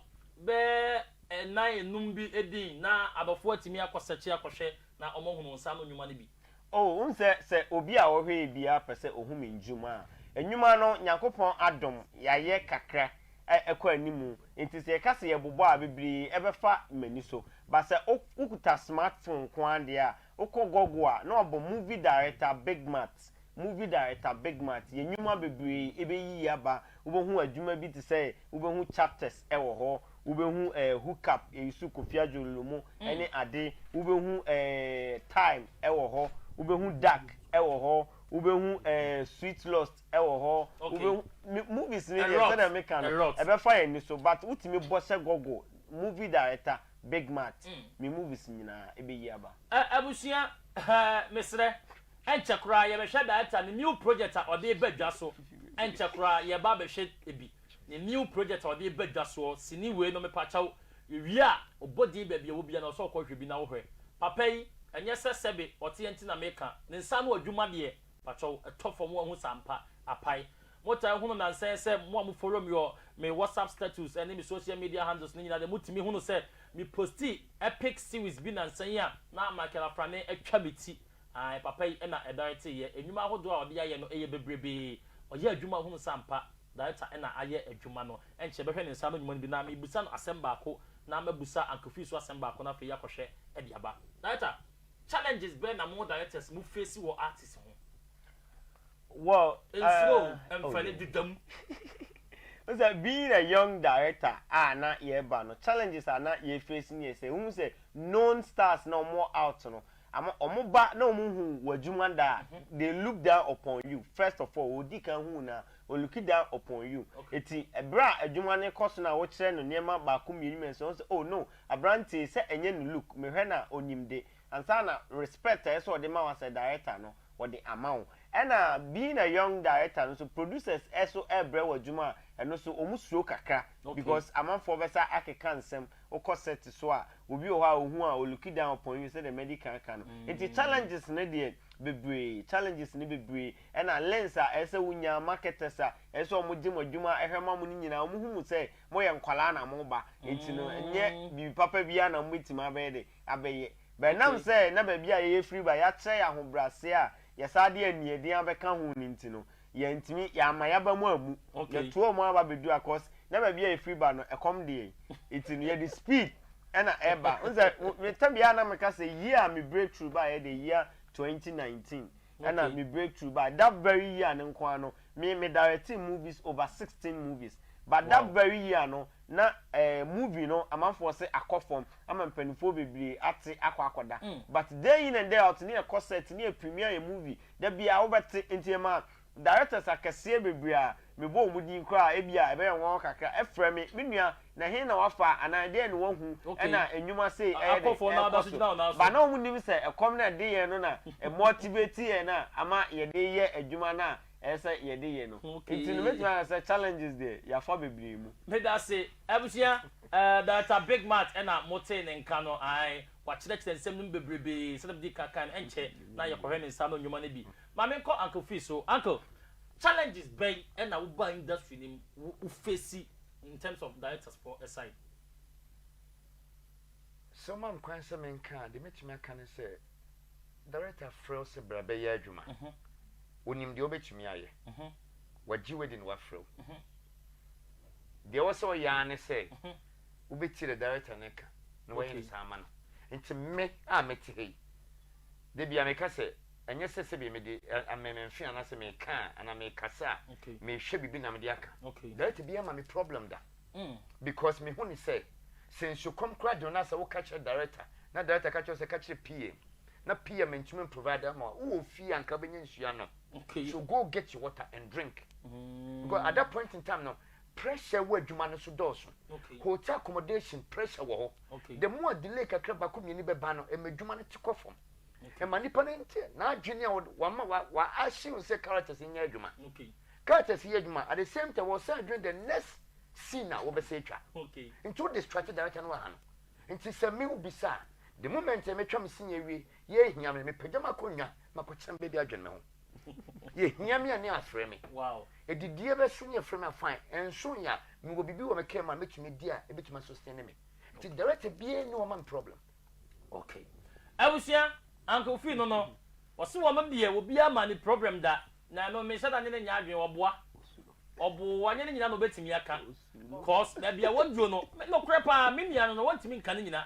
bɛɛ ɛnan enum bi edin na abɔfo atumi akɔ sɛkyi akɔhwɛ na wɔn ahunu nsa ano nnwuma no bi. O, wohu sɛ, sɛ obi a ɔhwɛɛ biara pɛ sɛ ohu me nnwuma a, nnwuma no, Nyankopɔn adom, yɛayɛ kakra a ɛkɔ anim, nti sɛ yɛka sɛ yɛbobɔ a, bebree ɛbɛfa m'ani so. But sɛ wo, wokuta smartphone nko ara deɛ a, wokɔ Google a, na wɔabɔ Movie Director Big Mat, Movie Director Big Mat, yɛn nnwuma bebree ɛbɛyiyi aba, wobɛhu adwuma bi te sɛ, wobɛhu chapters ɛwɔ hɔ, Wobɛhu eh, hook up eh, nsu Kofi Adjorllo mu ne ade Wobɛhu eh, time eh, wɔ hɔ Wobɛhu dark eh, wɔ hɔ Wobɛhu eh, sweet lost eh, wɔ hɔ Wobɛhu me movies no deɛ sɛdeɛ meka no ɛbɛfa yɛn ani so but wotumi bɔ hyɛ Google movie director Big Mat me movies nyinaa ɛbɛyi aba. Eh, abusua eh, mesrɛ ɛnkyɛ koraa yɛbɛhwɛ director no new project a ɔde reba dwa so ɛnkyɛ koraa yɛba abɛhwɛ bi. Ne new project a ɔde reba dwa soɔ sini wei no mepakyɛw yɛwie a ɔbɔ din baabi a ɛwɔ biara na ɔsɛ ɔkɔ hwɛ bi na wohwɛ papa yi ɛnyɛ sɛ sɛbe ɔteɛ nti na meka ne nsa ano adwuma deɛ pakyɛw ɛtɔ fam wahu saa mpa apae motaa hunu nansa yi sɛ mo a mo follow me wɔ me WhatsApp status ɛne me social media handles no nyinaa deɛ motumi hunu sɛ me posti epic series bi nansa yi a na Michael Afrane atwa me ti Ae papa yi na ɛdare te yɛ. Ɛnwuma ahodoɔ a ɔde ayɛ no yɛ bebrebee. Ɔyɛ adwuma hunu sa ampa. Director na ayɛ adwuma no. Ɛnkyɛ bɛhwɛ ne nsa ano nwuma no bi na mebisa no asɛm baako na mabusa Ankofi so asɛm baako na afei yɛakɔhwɛ de aba. Director, Challenges bɛn na mo directors mo face wɔ artist ho? Well, uh, Nsuro o, ɛmfa ni, deda mu. Wohu sɛ being a young director a na yɛreba no, challenges a na yɛ face ne yɛ sɛ, wohu sɛ known stars na wɔn wɔ out no, Ama wɔn ba na wɔn nhu w'adwuma da a, they look down upon you, first of all, wɔdi kan hu wo no a, wɔn looki down upon you. Enti berɛ a adwuma no rekɔ so no a wokyerɛ no nneɛma baako mmienu mmiɛnsa a, wɔhu sɛ oh no, aberanteɛ yi sɛ ɛnyɛ ne look, mehwɛ no a ɔnim de. Ansa na respect a ɛsɛ sɛ wɔde ma wo as a director no, wɔde ama wo. Ɛna being a young director no nso, producers so rebrɛ wo adwuma a, ɛno nso wɔsuro kakra because amanfoɔ bɛsa akeka nsɛm Wokɔ set so a obi wɔ hɔ a ohu a ɔlook it down upon you sɛdeɛ Medi kan aka no. Nti challenges no deɛ bebree, challenges no bebree. Ɛna lens a ɛsɛ sɛ wonya, marketers a ɛsɛ sɛ wɔn gye mo adwuma hwɛ ma mo no nyinaa wɔn hu mo sɛ moyɛ nkwadaa na moba. Nti no nyɛ biribi papa biara na mobɛtumi abɛyɛ dɛ abɛyɛ. But ɛnam sɛ na baabi a yɛyɛ firi ba yɛakyerɛ yɛn ahobrɛaseɛ a yɛsan de aniɛden abɛka ho no nti no, Yɛantumi, yɛamma yɛaba mu ammu. Yɛtoaa mu ara ba bɛduu ha cos na baabi a yɛfiri ba no, ɛkɔm de yɛn. Nti no, yɛde speed na ɛba. Wohu sɛ, me ta biara na meka sɛ year a me breakthrough baeɛ deɛ, year 2019 na me breakthrough baeɛ. That very year no nko ara no, me, me directee movies over 16 movies. But that very year no, na eh, movie no, amanfoɔ se akɔ fam, ama mpanimfoɔ bebree ate akɔ akɔda. But day in and day out, ne yɛkɔ set, ne yɛ premiere yɛn movie, Da biara wobɛte nteɛm a directors akɛseɛ bebree a mebɔ wɔn din koraa a ebia ɛbɛyɛ nwanwa kakra frɛ me, Me nua, na ɛhe na woafa anaa ɛdeɛn na woahu na nnwuma sei ɛyɛ dɛn ɛrekɔ so? But na wɔn nnim sɛ ɛkɔm no a ɛde yɛn no na ɛ motivate yɛn a ama yɛde yɛ adwuma no a ɛyɛ sɛ yɛde yɛ no. Nti no mɛtumi aka sɛ challenges deɛ yɛafa bebree mu. Medase abusua, eh Director Big Mat ɛna motee ne nka no ae Wɔakyerɛkyerɛ nsɛm no mu bebrebe. Sɛnea midii kan kae no, ɛnkyɛ na yɛkɔhwɛ ne nsa ano nnwuma no bi. Ma menkɔ Uncle Phil so. Uncle, challenges bɛn na wobaa industry no mu, wo face in terms of directors foɔ side? Sɛ woma me kwan sɛ menka a, deɛ mɛtumi aka ne sɛ, director frɛ wo sɛ bra bɛyɛ adwuma. Ɔnim deɛ wobɛtumi ayɛ. Wagye wo adi na wafrɛ wo. Deɛ ɛwɔ sɛ ɔyɛ ara ne sɛ, wobɛtie deɛ director no reka na wayɛ no saa ama no. Nti me a mete ha yi, da biara meka sɛ, ɛnyɛ sɛ sɛdeɛ mede amememfe anaasɛ meka a, anaa mekasa a, mehwɛ biribi na mede aka. Director biara ma me problem da. Because mehu no sɛ, sɛ nsukɔm koraa de wo no a, sɛ woka kyerɛ director, na director ka kyerɛ wo sɛ ka kyerɛ PA, na PA mentumi mprovide ama wo a, wowɔ fie a anka wobɛnya nsuo anom. So go get your water and drink. Because at that point in time no, Pressure wo adwuma no so dɔɔso. Hotel accommodation pressure wɔ hɔ. The more delay kakra baako mmienu bɛba no, ɛma adwuma no te kɔ fam. Ɛma nipa no nte n'adwene a wama wa assume sɛ characters nyɛ adwuma. Characters yɛ adwuma at the same time wɔsan adwene the next scene a wɔbɛsɛ atwa. Nti wo distracte director no wɔ ha no. Nti sɛ me wo bisa a, the moment a metwa me scene awie, yɛ hia me, mepagya m'akonnwa, makɔkyɛn baabi adwene me ho. Yɛhia me a ne afrɛ me. Adidie bɛso ne afrɛ me a fine. Ɛnso yɛ a mewɔ biribi wɔ me kra mu a mɛtumi adi a ɛbɛtumi asostene me. Nti director biara nni hɔ ma me problem. Okay. Abusua, Uncle Fee no no, ɔse wɔma biɛ wɔ biara ma ne problem da. Na ɛno menhyɛ da ne no nyɛ adwene, ɔboa. Ɔboo, anyɛ ne nyina na ɔbɛtumi aka. Cos baabi a wɔduo no, nokorɛ paa, me nua no no wɔntumi nka ne nyina.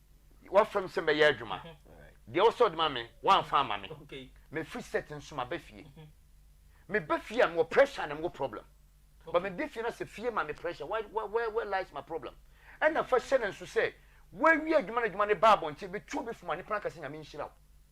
W'asɛm sɛ mɛyɛ adwuma. Deɛ wosɛ wode ma me, woamfa amma me. Mefiri set nso maba fie. Meba fie a mewɔ pressure na mewɔ problem. But meba fie na sɛ fie ma me pressure, where, where, where, where lies my problem? Ɛna fa hyɛ no nso sɛ, woawie adwuma na adwuma no ba abɔnten, bɛtu obi fom a, nnipa no aka sɛ Nyame nhyira wo.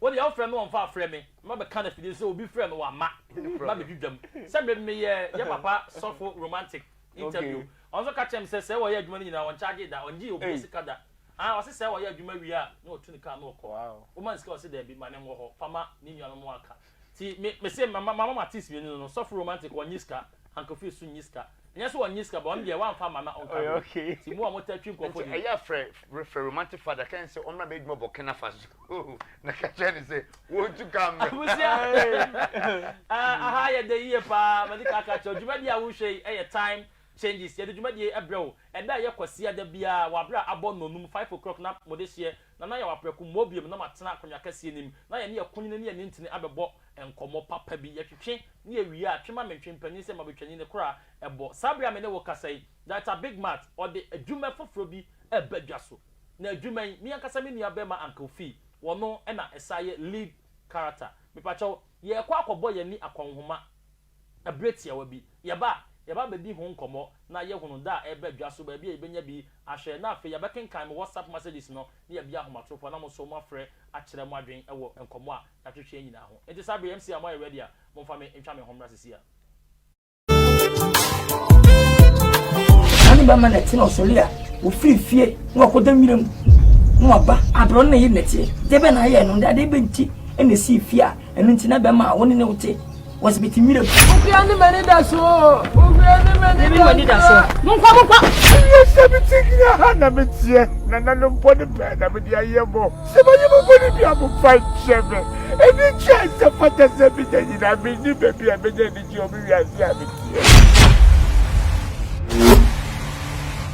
Wo deɛ wofrɛ no ɔmfa frɛ me mma bɛka no afidie so sɛ obi frɛ no wamma mma bɛdi dwam sɛ me meyɛ yɛ papa sɔfo romantic interview ɔno nso ka kyerɛɛ me sɛ sɛ ɔyɛ adwuma no nyinaa ɔnkyagye da ɔngye obiara sika da aah ɔse sɛ ɔyɛ adwuma wie a na ɔtu ne car na ɔkɔ woma no sika ɔse daabi ma ne nwɔ hɔ fa ma ne nuanom no aka nti me mese mama matis mmienu no no sɔfo romantic ɔnye sika Uncle Phil so nyi sika. Ɛnyɛ sɛ ɔnye sika but ɔno deɛ wamfa amma na ɔnka wei. Nti mo a mo taa twi nkurɔfoɔ Nti di. ɛyɛ a frɛ frɛ romantic father ka ne sɛ ɔmmra bɛyɛ adwuma Burkina Faso na ka kyerɛ ne sɛ wɔntu ka mmra. Abusua Ɛɛ aha yɛ den yie paa Madi kan aka akyerɛ wo dwumadie a wohwɛ yi yɛ Time Changes yɛde dwumadie yi brɛ wo ɛda a ɛyɛ Kwasiada biara wɔ aberɛ a abɔ nnɔnum, five o'clock, na mode hyeɛ na na yɛwɔ aprɛko mmɔ biom na matena akonnwa kɛseɛ no mu na yɛne Akunini ne Anintini abɛbɔ nkɔmmɔ papa bi. Yɛtwetwe na yɛwie a, twe ma me ntwe mpanin sɛ mabɛtwani no kora ɛbɔ. Saa berɛ a me ne wo rekasa yi, Director Big Mat ɔde adwuma foforɔ bi reba dwa so. Na adwuma yi, me ankasa me nua barima Uncle Fee, ɔno na ɛsan yɛ lead character. Mepakyɛw, yɛrekɔ akɔbɔ yɛn ani akɔnhoma. Bere tiawa bi, yɛba a, yɛba bedi ho nkɔmmɔ na yɛhunu da a ɛreba dwa so, baabi a yebenya bi ahwɛ, na afei yɛbɛkenkan mo WhatsApp messages no ne yɛabia ahomatorofo na mo nso moafrɛ akyerɛ mo adwene wɔ nkɔmmɔ a yɛatwetwe yi nyinaa ho. Enti saa bere yi, MC a moayɛ ready a, momfa me ntwa me ho mmra sesiea. Saa ne bɛma nɛte na ɔsɔre a ofiri fie na ɔkɔda nwira mu na waba abrɔ no na yɛ nɛteɛ deɛ bɛ na ayɛ no de adeɛ bɛ nti ɛna ɛsii fie a ɛno nti na bɛma a wo ne ne wote Wɔsi mi ti nwira mu. Owia ne m'ani da so. Owia ne m'ani da so. Yɛbi m'ani da so. Monkɔ monkɔ. Ɛyɛ sɛ me ti gyina ha na me teɛ. Nananom bɔne bɛn na mede ayɛ mo? Sɛ mayɛ mo bɔne bi a momfa nkyɛ me. Anigye a ɛsɛ fata sɛ menya nyinaa menni baabi a menya anigye wɔ me wiase a meteɛ.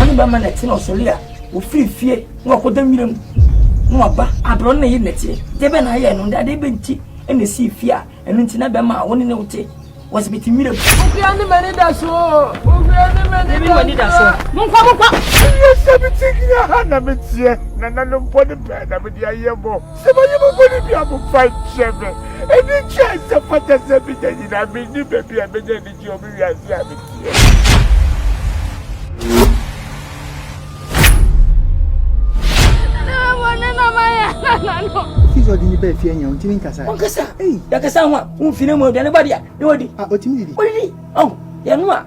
Ɔne bɛma na ɛte na ɔsɔre a ofiri fie na ɔkɔda nwira mu na waba abrɔ na yi nɛteɛ deɛ bɛ na ayɛ no nda adeɛ bɛ nti ɛna esi fie a ɛno nti na bɛma a wɔne ne wote wɔsi bɛte nwira mu. Ofia ne mɛni da so ofia ne mɛni da so. Monkɔ monkɔ. Yɛ sɛ mi ti gyina ha na mi tiɛ na nanum pɔ ne bɛn na mi di ayɛ bɔ. Sɛ manye mo bɔne bi a momfa nkyɛ me. Anigye a ɛsɛ fata sɛ menya nyinaa, mennim baabi a menya anigye wɔ me wiase a meteɛ mu. Jesus di ni bɛɛ fie nyɛ ɔntumi nkasa. ɔnkasa yakasa ho a womfine mu aduane ba deɛ na wadi. a ɔtumi didi. ɔdidi ɔn yɛno a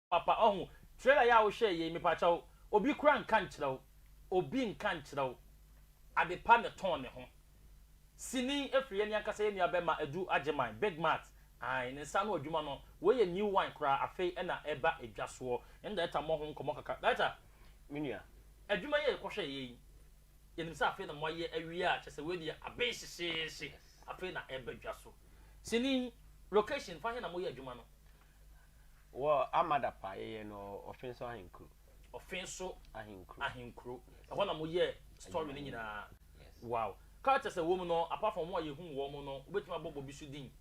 Papa ɔho trailer yi a wo hwɛɛ yei mepakyɛw obi kora nka nkyerɛ wo obi nka nkyerɛ wo adepa na ɛtɔn ne ho sini ɛfiri yɛn ankasa yɛn nua bɛma Adu Agyeman big mart ae ne nsa ano adwuma no wei yɛ new wine koraa afei ɛna ɛba ɛdwa soɔ yɛne director mmɔ ho nkɔmɔ kakra director me nua adwuma yi a yɛkɔ hwɛɛ yei yɛnim sɛ afei na mo ayɛ awie a kyɛ sɛ wei deɛ aben hyehyeehye afei na ɛba dwa so sini location fa he na mo yɛ adwuma no. Wɔ Amadapa yɛyɛ no Ɔfenso Ahenkuro. Ɔfenso Ahenkuro. Ahenkuro. Yes. Ɛhɔ na mo yɛ story no nyinaa. Yes. Wow. Characters a wɔm no apart from wɔn a yɛhu wɔn no wobɛtumi abɔ bɔ bi so din.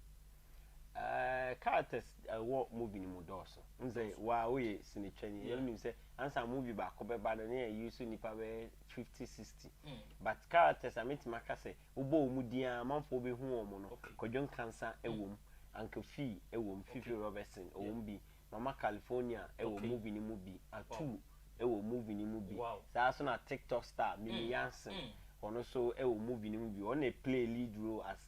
Uh, characters ɛwɔ uh, movie no mu dɔɔso. N sɛ wa woyɛ sinetwani yeah. ɛnim sɛ ansa movie baako bɛba no ne yɛ use nipa bɛyɛ 50 60. Mm. But characters a metumi aka sɛ Wobɔ wɔn din a amanfoɔ bɛhu wɔn no, Kwadwo Nkansa wɔ mu, Anka Fee wɔ mu, Fifi Robertson wɔ mu bi, Mama California wɔ movie no mu bi, Atuu wɔ movie no mu bi, saa ara nso na Tik Tok star Mimi Yansen, ɔno nso wɔ movie no mu bi, ɔno na ɔplay lead role as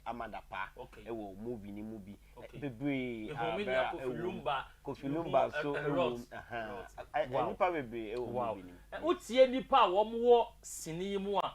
Ama Dapaah wɔ movie no mu bi, bebree a Berah wɔ mu, Kofi Lumba nso wɔ mu, ahaa, nnipa bebree wɔ movie no mu. Wotie nnipa a wɔwɔ sini yi mu a,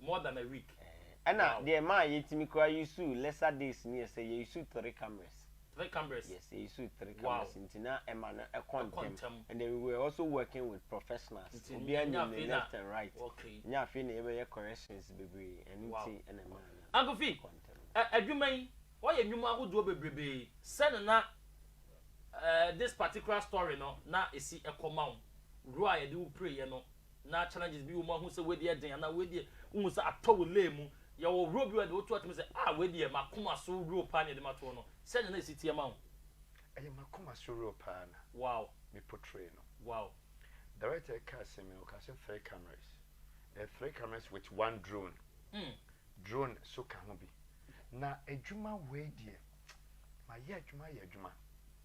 More than a week. Ɛna Wow. deɛ ɛmaa yɛtumi koraa usuu lesser days no yɛ sɛ yɛusuu three cameras. Three cameras. Yes, yɛusuu three Wow. cameras nti na ɛma no ɛkɔ Ɛkɔ ntɛm. ntɛm. And then we were also working with professionals. Nti Obiara ɛnyɛ nim ne afei na- left and right. Okay. Ɛnyɛ afei na yɛbɛyɛ corrections bebree. Ɛno Wow. nti ɛna ɛmaa no Uncle Fi, ɛkɔ ntɛm. ɛ, adwuma yi, woayɛ nnwuma ahodoɔ bebrebee. Sɛn na na eh, this particular story no na ɛsi kɔ ma wo? Wura a yɛde wo pireeɛ no, Na challenges bi wɔ mu a wohu sɛ wei deɛ ɛden anaa wei deɛ wohu sɛ atɔ wo lane mu. Yɛwɔ woro bi wɔ deɛ woto atumi sɛ ah wei deɛ m'akoma so woro paa na yɛde matoɔ no. Sɛdeɛ na ɛsi teɛ ma wo? Ɛyɛ m'akoma so woro paa na Wow! me portray no. Wow! Director reka asɛm yi no ɔkaa sɛ three cameras. Ɛyɛ three cameras with one drone. Hmm. Drone so ka ho bi. Na adwuma wei deɛ mayɛ adwuma ayɛ adwuma.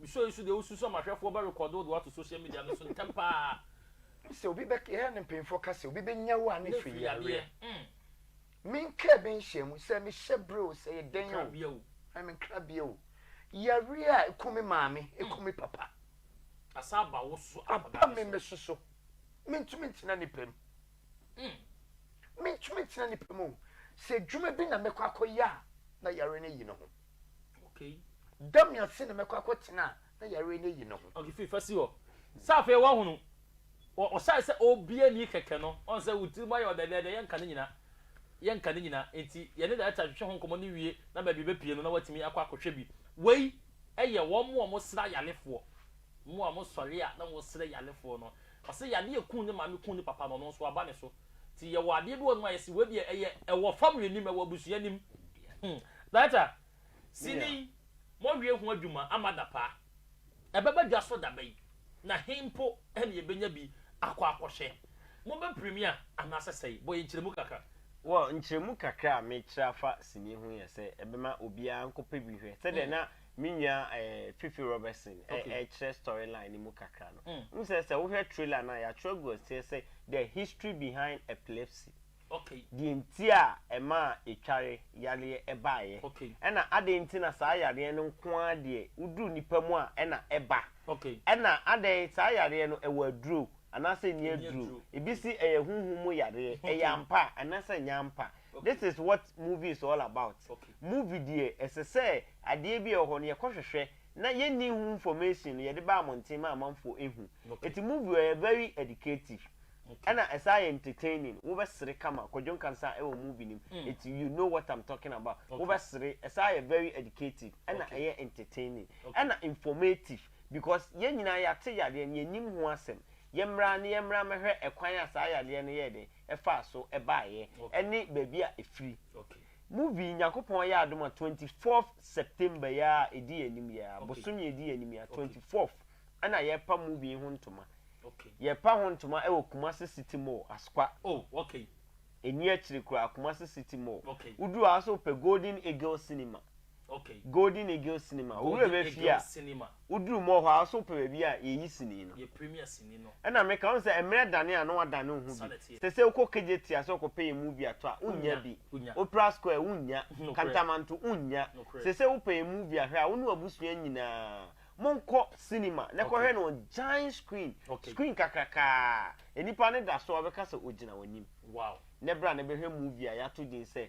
Misua nso deɛ wosusu ama ahwɛfoɔ bɛ rekɔɔdo wo de wo ato social media no so ntɛm pa ara. Wo sɛ obi bɛ Yɛ ne mpanyinfoɔ ka sɛ obi bɛ nya wo a ne firi yareɛ. Me nkaa bɛ nhyiamu sɛ me hyɛ brɛ o sɛ yɛ dɛn o ɛɛ me nkrabea o yareɛ a ɛkum me maame ɛkum me papa asan aba wo so aba me me so so me ntumi ntena nipa mu me ntumi ntena nipa mu o sɛ adwuma bi na mɛkɔ akɔ yɛ a na yareɛ no ayi ne ho. Da me ase na mɛkɔ akɔtena a na yareɛ no ayi ne ho. Ɔkefiri fasi hɔ sɛ afei wahunu. Ɔhyɛe sɛ obiara nni kɛkɛ no, ɔhu sɛ wo tirim ayɛ ɔdɛɛdɛɛdɛɛ, yɛnka ne nyina, yɛnka ne nyina. Enti yɛne Director twetwe ho nkɔmmɔ no wie na baabi bɛpue no na watumi akɔ akɔhwɛ bi. Wei yɛ wɔn a wɔsra ayarefoɔ, mo a mosɔre a na mosrɛ yarefoɔ no. Ɔse yadeɛ a ɛkuu ne maame kuu ne papa no, ɔno nso aba ne so. Nti yɛwɔ adeɛ bi wɔ nom a yɛse wei deɛ ɛyɛ ɛwɔ family anim ɛwɔ abusua anim hmm Director sini yi moawie ho adwuma ama adapa ɛbɛba dwa so daba yi na he mpo na yɛbɛnya bi akɔ akɔhwɛ mobɛ premier anaasɛ sɛi bɔ yɛn nkyerɛmu kakra. Well nkyerɛmu kakra a mekyerɛ afa sini ho yɛ sɛ ɛbɛma obiara nkɔpɛ bi hwɛ sɛdeɛ na hmm. Me nua eh, Fifi Robertson eh, Okay. ɛkyerɛ story line no mu kakra no. Mm. Wohu sɛ, sɛ wohwɛ trailer no a, yɛatwerɛ agu aseɛ sɛ, The History Behind Epilepsy. Okay. Deɛ nti a ɛmaa etware yareɛ baeɛ. Okay. Ɛna adɛn nti na saa yareɛ no nko ara deɛ woduru nnipa mu a ɛna ɛba. Okay. Ɛna adɛn, saa yareɛ no ɛwɔ aduro anaasɛ nni Ɛnni aduro. aduro. Ebi se ɛyɛ honhom mu yareɛ, Okay. ɛyɛ ampa a anaasɛ ɛnyɛ ampa. Okay. This is what movie is all about. Okay. Movie deɛ ɛsɛ sɛ adeɛ bi a ɛwɔ hɔ no yɛkɔ hwehwɛ na yɛnni ho information no yɛde ba amɔnten ma amanfoɔ ɛhu. Ɛti movie ɔyɛ very educative ɛna ɛsan yɛ entertaining wo bɛ sere kama Kwadwo Nkansah ɛwɔ movie no mu ɛti you know what I'm talking about wo bɛ sere ɛsan yɛ very educative ɛna ɛyɛ entertaining ɛna informative because yɛn nyinaa yɛate yadeɛ no yɛnim ho asɛm yɛ mmra na yɛ mmra mmɛhwɛ ɛkwan a saa yadeɛ no yɛɛ dɛn ɛfaa so ɛbaeɛ ɛne baabi a ɛfiri Movie Nyankopɔn Ayɛ Adom a 24th September yi ara a ɛdi yɛn anim yi ara, bosome a ɛdi yɛn anim yi ara, 24th, ɛna yɛrepa movie yi ho ntoma. Yɛrepa ho ntoma wɔ Kumasi City Mall, Askwa. Ɛnni akyire koraa, Kumasi City Mall. Woduru hɔ ara nso wopɛ Golden Eagle Cinema. Golden Eagle Cinema, wo werɛ bɛfie a, woduru mu hɔ a, wo nso wopɛ baabi a yɛyi sini no. Ɛna meka, wohu sɛ mmerɛ dane a na woadane wo ho bi. Sɛ sɛ wokɔ Kejetia ase wokɔpɛ yɛn movie ato a, wonnya bi. Opera Square, wonnya. Kantamanto, wonnya. Sɛ sɛ wopɛ yɛn movie ahwɛ a, wo ne w'abusua nyinaa monkɔ cinema na kɔhwɛ no on giant screen, screen kakrakaa a nnipa no da so a wɔbɛka sɛ wɔgyina w'anim. Na bra na bɛhwɛ movie a yɛato din sɛ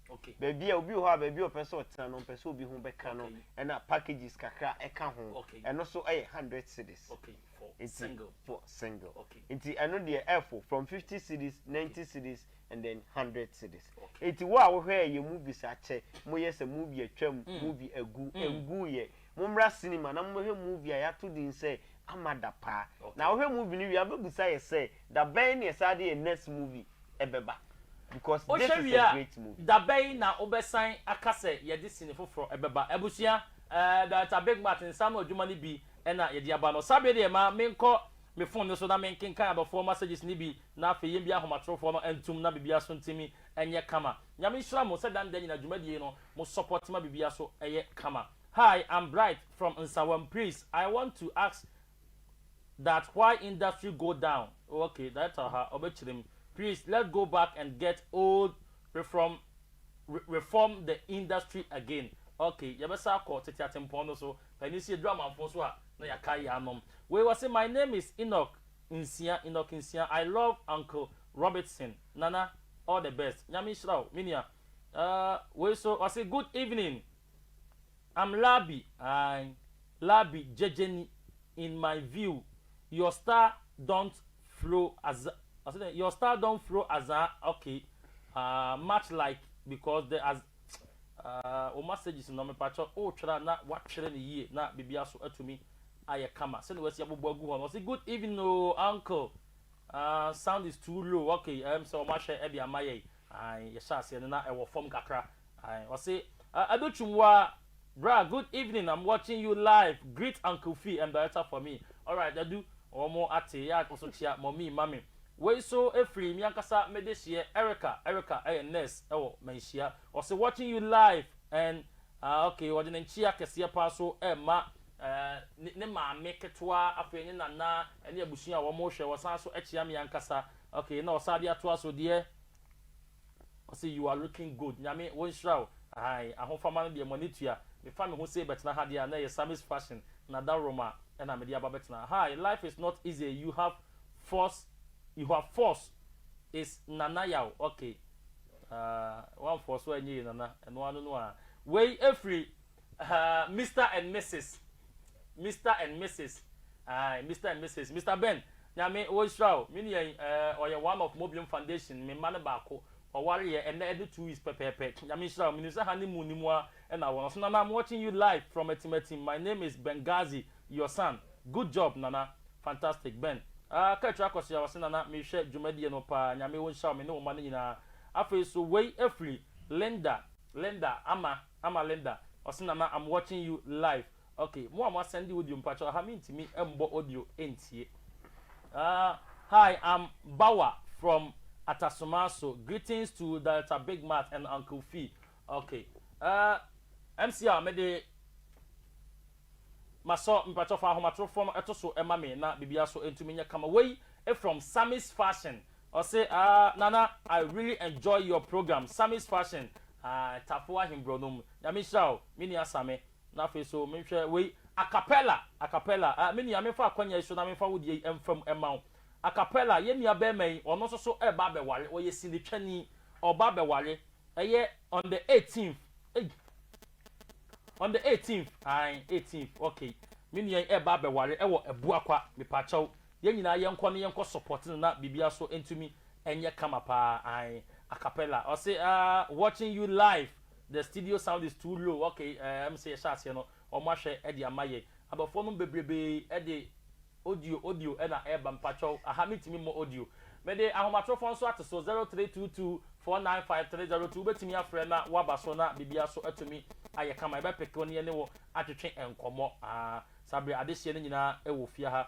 Okay. Baabi a obi wɔ hɔ a baabi a ɔpɛ sɛ ɔtena no mpɛ sɛ obi ho bɛka no Okay. ɛna packages kakra ɛka ho Okay. ɛno so ɛyɛ hundred cities Okay, for nti single. for single Okay. nti ɛno deɛ ɛfo from fifty cities ninety cities and then hundred cities Okay. nti wo a wohwɛ yɛ movies akyɛ mo yɛ sɛ movie atwam movie agu ngu yɛ mo mmra cinema na mo bɛhwɛ movie a yɛato din sɛ amada paa Okay. na wohwɛ movie no wie abɛbusa yɛ sɛ Da bɛn ne ɛsaa de yɛ next movie ɛbɛba because this is a great movie. Wohwɛ wie a da bɛn na wobɛsan aka sɛ yɛde sini foforɔ ɛbɛba abusua ɛɛ Director Big Mat nsa ano adwuma no bi ɛna yɛde aba no saa bere deɛ ma menkɔ me phone no so na menkenkan adɔfoɔ messages no bi na afei yɛn bi ahomatorofoɔ no ntom na biribiara so ntumi nyɛ kama Nyame nhyira mo sɛ da ne da nyina dwumadie yi no mo support ma biribiara so yɛ kama Hi I'm Bright from Nsawam please I want to ask that why industry go down oh ok director ha ɔbɛkyerɛ mu please let go back and get old refrom reform the industry again ok yɛbɛsa akɔ tete atempɔn no so panin sɛ yɛduru amanfo so a na yɛaka yɛanom wei wɔ se my name is Enoch nsia Enoch nsia I love uncle Robertson nana all the best nyame nhyira wo me nua uh, wei so ɔse good evening. I'm Labi aye Labi gyegyeni in my view your star don't flow aza ɔse dɛn your star don't flow aza ok ah much like because the as ah wo masages no mepakyɛ wotwere a na watwere no yie na biribiara so atumi ayɛ kama sɛdeɛ wasi abobɔ agu hɔ no ɔse good evening oo uncle ah sound is too low ok ɛm sɛ wɔn ahwɛ ɛde ama yɛn aye yɛhyɛ aseɛ no na ɛwɔ fam kakra. Ae ɔse Adotwum wa bra good evening am watching you live greet uncle fee and director for me alright Adu ɔmo ate ya kɔso kyea mummy ma me wei so efiri me ankasa mede hyeɛ Erica Erica ɛyɛ nurse ɛwɔ manhyia ɔse watching you live and ah ok ɔde ne nkyea kɛseɛ paa so ɛma eh ne maame ketewa afei ne nana ɛne abusua a ɔmo hwɛ ɔsan so ɛkyea me ankasa ok na ɔsan de atoa so deɛ Ɔse you are looking good Nyame wo nhyira wo aane Ahofama no deɛ mo ani tua Me fa me ho sei bɛtena ha deɛ a na ɛyɛ Sammy's fashion Na da wroma ɛna mede aba bɛtena ha ee Life is not easy ee You have force You have force is Nana yaw okay Aah wamfɔɔso annyɛ ee Nana ɛno ano no aa Wei ɛfiri Ahaa, Mister and Misis, Mister and Misis, ae, Mister and Misis, Mister Ben, Nyame ɔnhyira wo, me nua yi, eh, ɔyɛ one of Mobium Foundation, me mma no baako, ɔwareɛ, ɛnnɛ ɛde two weeks pɛpɛɛpɛ, Nyame nhyira wo, menim sɛ honey moon no mu ara na wɔ, nanso Nana, I'm watching you live from Atimatim, my name is Benghazi, your son, good job, Nana, fantastic, Ben, ah, Kaakyire Akɔsoa, ɔse, Nana, mehwɛ dwumadie no paa, Nyame ɔnhyira wo, me ne wo mma no nyinaa, afei nso wei firi Linda, Linda, Ama. Ama Linda ɔse nana am watching you live ok mo a mo asɛnde audio mpakyɛw aha mentumi mbɔ audio ntie aah hi am Bawa from Atasomaso greetings to Director Big Mat and Uncle Fee ok aah MCR mede Masɔ mpakyɛw fa ahomatorofo no to so ma me na biribiara so ntumi nyɛ kama wei from Sammy's fashion ɔse aah Nana I really enjoy your program Sammy's fashion aah Tafo Ahenbrɔnom Nyame nhyira wo me nua Sammy na afei so menhwɛ wei Acapella Acapella aah me nua memfa akwanya yi so na memfa wo deɛ yi mfa mu mma wo Acapella yɛn nua bɛɛma yi ɔno nso so ɛɛba abɛware ɔyɛ sinitwani ɔɔba abɛware ɛyɛ on the eighteenth ei. On the eighteenth ae eighteenth ok me nua yi ɛɛba abɛware ɛwɔ abuakwa mepakyɛw yɛn nyinaa yɛnkɔ na yɛnkɔ support no na biribiara so ɛntumi ɛnyɛ kama paa ae acapella ɔse aah watching you live the studio sound is too low ok ɛɛ ɛm sɛ yɛhyɛ aseɛ no wɔn ahwɛ ɛde ama yɛn Abɔfoɔ nom bebrebee de audio audio na ɛreba mpakyɛw aha mentumi mmɔ audio. Mede ahomatorofoɔ nso ato so zero three two two four nine five three zero two wobɛtumi afrɛ na woaba so na biribiara nso atumi ayɛ kama yɛbɛpeke wo ne yɛne wo atwetwe nkɔmmɔ aa saa bere adehyeɛ no nyinaa wɔ fie ha.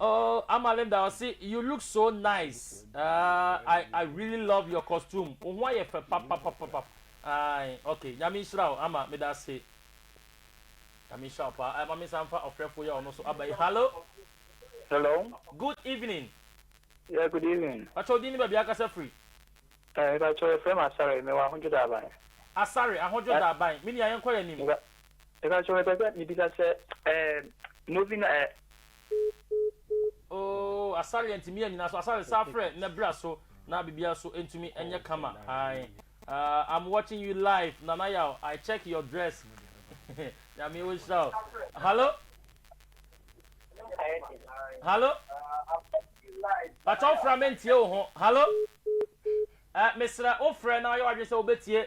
Oh ama Linda ɔse you look so nice uh, I, I really love your costume wo ho ayɛ fɛ papapapapap ae okay nyame nhyira wo ama meda ase nyame nhyira wo paa ama me nsa mfa ɔfrɛfo yɛ ɔno so aba yi hallo hello good evening yeah good evening pakyɛ odin ne baabi akasa firi eh pakyɛ yɛfrɛ m asare mewɔ ahodwo daaban asare ahodwo daaban me nua yɛnkɔ yɛ anim Mepakyɛw mepɛ sɛ mibisa sɛ ɛɛm Novena ɛ. Ooh asare antumi anyina so asare saa frɛ na bira so na biribiara so ntumi nyɛ kama ae aah I'm watching you live Nana Yaw I check your dress Nyame ɔnhyira wo Hallo Hallo Pakyɛ wo fra me ntie wo ho Hallo eh mesrɛ wo frɛ na yɛ w'adwene sɛ wobɛtie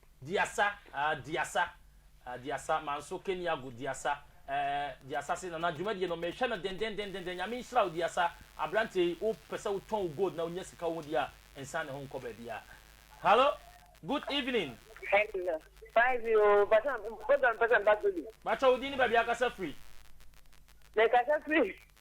Diasa ah Diasa ah Diasa Manso Keniago Diasa eh Diasa se Nana dwumadie no mehwɛ no dendendendenden Nyame nhyira wo Diasa Aberanteɛ yi wo pɛ sɛ wo tɔn wo gold na wo nya sika wo ho deɛ a nsan ne ho nkɔ baabiaa Hallo Good evening. Hello fine bi oo mpakyɛ program no pɛ sɛ meba Zulu. Mpakyɛ wo din ne baabi a kasa firi. Me kasa firi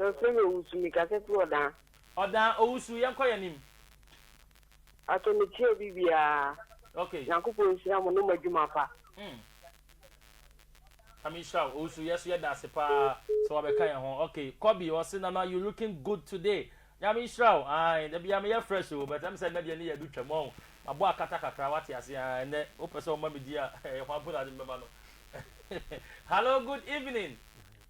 Ɔsɛ na owusu me kasa fi ɔdaa. Ɔdaa owusu yɛn kɔ yɛn nim. Pacho me tie obi biaa. Ok. Nyankopɔn nhyira mo ne mo adwuma pa. Hmm Nyame nhyira wo owusu yɛso yɛda ase paa sɛ wabɛ ka yɛn ho ok Kobi ɔse nana you looking good today Nyame nhyira wo ae dabia me yɛ fresh o but ɛm sɛ nnɛ deɛ ne yɛ do twam ɔn mabɔ akata kakra wate ase ae ɛnɛ wopɛ sɛ ɔma me di a ɛhɔ abona de mbɛma no hello good evening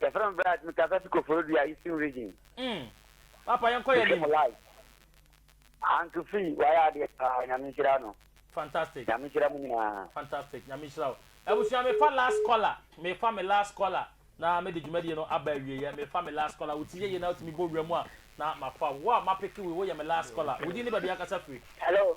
Yɛfrɛ me Bright, me kasa fi Koforidua, Eastern Region. Mm. Papa yɛn kɔ yɛ nim. Anto fi wayɛ adeɛ paa nyame nhyira no. Fantastic. Nyame nhyira mu nyinaa. Fantastic nyame nhyira o. Abusua me fa last caller me fa me last caller na me de dwumadie no aba awie yɛ me fa me last caller wo ti yɛ yɛ na otumi bɔ wura mu a na ma fa wo a ma peke wo wo yɛ me last caller wo di ne baabi akasa firi. Hello.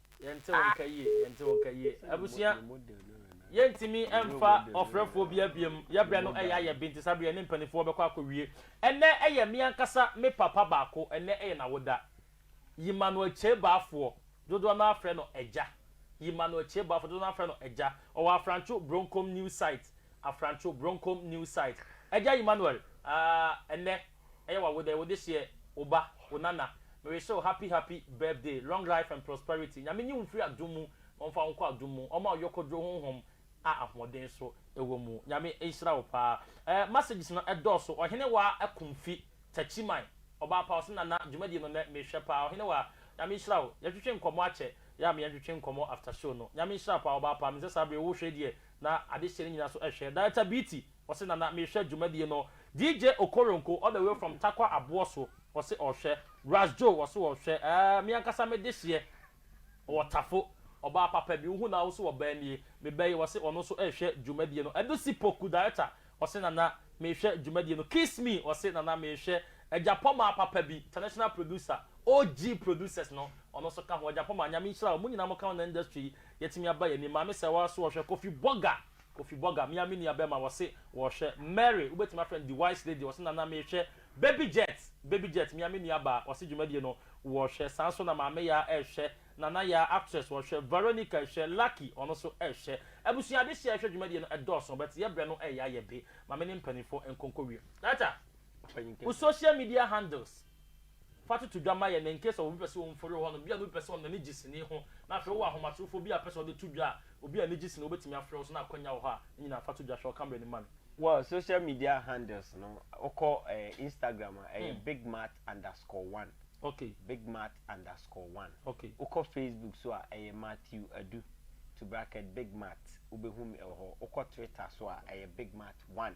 Yɛnte wo nka yie, yɛnte wo nka yie. Abusua, yɛntumi mfa ɔfrɛfoɔ bi abiem. Yɛbrɛ no ɛyɛ ayɛ bi nti saa berɛ yɛne mpanimfoɔ bɛkɔ akɔwie. Ɛnnɛ ɛyɛ me ankasa me papa baako, ɛnnɛ ɛyɛ n'awoda. Yimano Akyei Baafoɔ, dodoɔ no ara frɛ no Agya. Yimano Akyei Baafoɔ, dodoɔ no ara frɛ no Agya. Ɔwɔ Afrantwo Bronkom New Site, Afrantwo Bronkom New Site. Agya Yimanoel, ah, ɛnnɛ ɛyɛ wa wodɛ wode hyɛ wo ba wo nana merehyɛ wo happy happy birthday long life and prosperity nyame nyi wo mfiri adum mu na ɔmfa wo nkɔ adum mu ɔma wo yɔkɔduro honhom a ahoɔden so ɛwɔ mu nyame nhyira wo paa ɛɛ messages no ɛdɔɔso ɔhene wa akumfi takyiman ɔbaa pa ɔse nana dwumadie no nɛ mehwɛ paa ɔhene wa nyame nhyira wo yɛtwetwe nkɔmɔ akyɛ yɛ a me yɛntwetwe nkɔmɔ after show no nyame nhyira paa ɔbaa pa mesɛ saa bere wo hwɛ deɛ na ade hyɛ ne nyina so ɛhwɛ director beaty Ɔse na na mehwɛ dwumadie no DJ Okoronko all the way from Tarkwa Aboɔso ɔse ɔhwɛ Ras Joe ɔse ɔhwɛ ɛɛɛ me ankasa me dehyeɛ ɔwɔ Tafo ɔbaa papa bi wohu naa wo so ɔbaa nie me ba yi ɔse ɔno nso ɛɛhwɛ dwumadie no Adusi Poku director ɔse nana mehwɛ dwumadie no Kiss Me ɔse nana mehwɛ Agyapɔmaa papa bi international producer OG producers no ɔno nso ka ho Agyapɔmaa nyame nhyira wo mo nyinaa mo ka ho na industry yi yɛtumi aba yɛn anim Maame Sɛwa so ɔhwɛ Kofi Burger Kofi Burger, me ara me nua bɛrima, wɔse wɔrehwɛ. Mary, wobɛtumi afrɛ no The Wise Lady, ɔse Nana merehwɛ. Baby Jet, Baby Jet, me ara me nua baa, ɔse dwumadie no wɔrehwɛ. Saa nso na Maame Yaa rehwɛ, Nana Yaa, actress, ɔrehwɛ. Veronica rehwɛ, Lucky, ɔno nso rehwɛ. Abusua adehyeɛ a ɛhwɛ dwumadie no dɔɔso, but yɛbrɛ no reyɛ ayɛ be. Ma me ne mpaninfoɔ nkonko wie. Ata, wo social media handles. Fa toto dwa ma yɛn, in case of obi pɛ sɛ ɔmfori wɔ hɔnom, bi a na obi pɛ sɛ ɔno n'ani gye sini ho, na afei wowɔ ahomatorofo bi a pɛ sɛ ɔde to dwa a, obi a n'ani gye sini, wobɛtumi afrɛ wo so na akwanya wɔ hɔ a, ne nyinaa fa to dwa, hwɛ ɔkammerɛ no ma me. Wɔ social media handles no, wokɔ Instagram a, ɛyɛ bigmat underscore one, okay, bigmat underscore one, okay, wokɔ Facebook so a, ɛyɛ Matthew Adu, to bracket, bigmat, wobɛhu me wɔ hɔ, wokɔ Twitter so a, ɛyɛ bigmat one,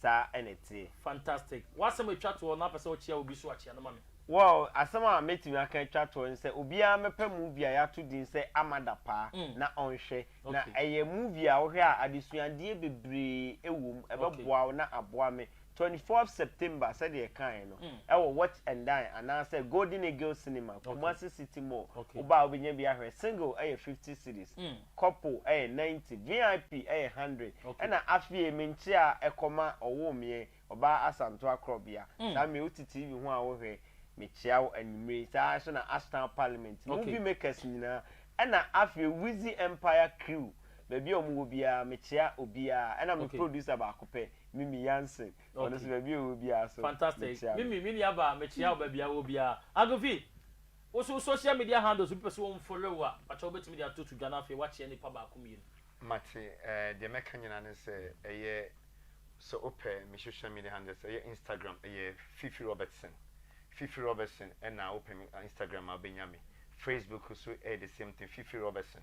saa na ɛteɛ. Fantastic! W'asɛm a ɛtwa toɔ na wopɛ sɛ wokyea obi so a, kyea no ma me. Well, asɛm a mɛtumi aka atwa toɔ ne sɛ, obiara mmɛpɛ movie a yɛato din sɛ Amada Paa na ɔnhwɛ. Na ɛyɛ movie a wohwɛ a adesuadeɛ bebree wɔ mu, ɛbɛboa wo na aboa me. Twenty fourth September sɛdeɛ ɛkaeɛ no, ɛwɔ Watch and Dine anaasɛ Golden Eagle Cinema, Kumasi City Mall. Woba a wobɛnya bi ahwɛ. Single yɛ fifty cedis. Couple ɛyɛ ninety, VIP ɛyɛ hundred, ɛna afie me nkyea ɛkɔma ɔwoo meɛ ɔbaa Asanto Akrɔbea, saa mmere wo te TV ho a wo hwɛ me kyea wo anwummere yi, saa nso na Ashtown Parliament, Movie Makers nyinaa, ɛna afei Wizzy Empire Crew, baabi a wɔn wɔ biara me kyea obiara, ɛna me producer baako pɛ, Mimi Yanson, ɔno nso baabi a ɔwɔ biara nso me kyea no. Fantastic, Mimi, me nua baa me kyea wo baabi a wo wɔ biara. Agufi, Wo so wo social media handles obi pɛ sɛ ɔn follow wo a pakyɛ wo bɛtumi de ato to dwa na afei woakyea nipa baako mmienu. Mate eh, deɛ mɛka nyinaa ne sɛ ɛyɛ sɛ wopɛ me social media handles ɛyɛ Instagram ɛyɛ Fifi Robertson Fifi Robertson ɛna wopɛ me Instagram a wobɛnya me Facebook nso ɛyɛ the same thing Fifi Robertson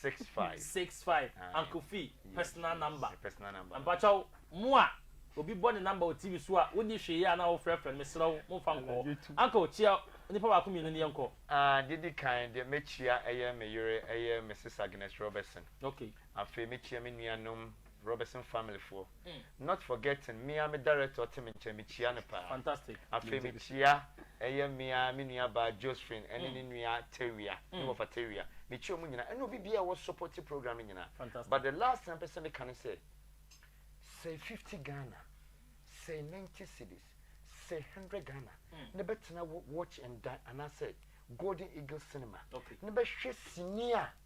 Six five. Six five Aye. uncle fee Yeah. personal number Yɛ personal number. mpakyɛw mo a obi bɔ ne number wɔ tv so a wonni hwee yɛ a na wofrɛfrɛ no mesrɛ wo momfa nkɔ hɔ Anadwo tu. uncle kyia nnipa baako mmienu no yɛnkɔ Ah, deɛ di kan deɛ mɛkyia ɛyɛ me yere ɛyɛ Mrs Agnes Robertson. okay Afei mɛkyia me nuanom Robertson family foɔ not forgetting me ara me director a ɔte me nkyɛn me kyia no paa afei me kyia ɛyɛ me ara me nua baa Josephine ɛne ne nua Tawia ne wɔfa Tawia me kyia wɔn nyinaa ɛne obi biara a ɔwɔ supporting program no nyinaa but the last thing a mpɛ sɛ me ka ne sɛ sɛ fifty Ghana sɛ ninety cedis sɛ hundred Ghana na bɛtena watch and dine anaa sɛ Golden Eagle cinema na bɛhwɛ sini a.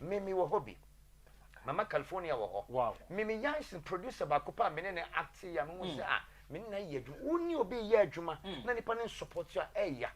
Me me wɔ hɔ bi. Mama California wɔ hɔ. Wow. Me me Yansen producer baako pa a me ne ne acte ya me hu sɛ ah me ne na yɛ adwuma. Wo ne obi yɛ adwuma na nipa ne support a ɛya.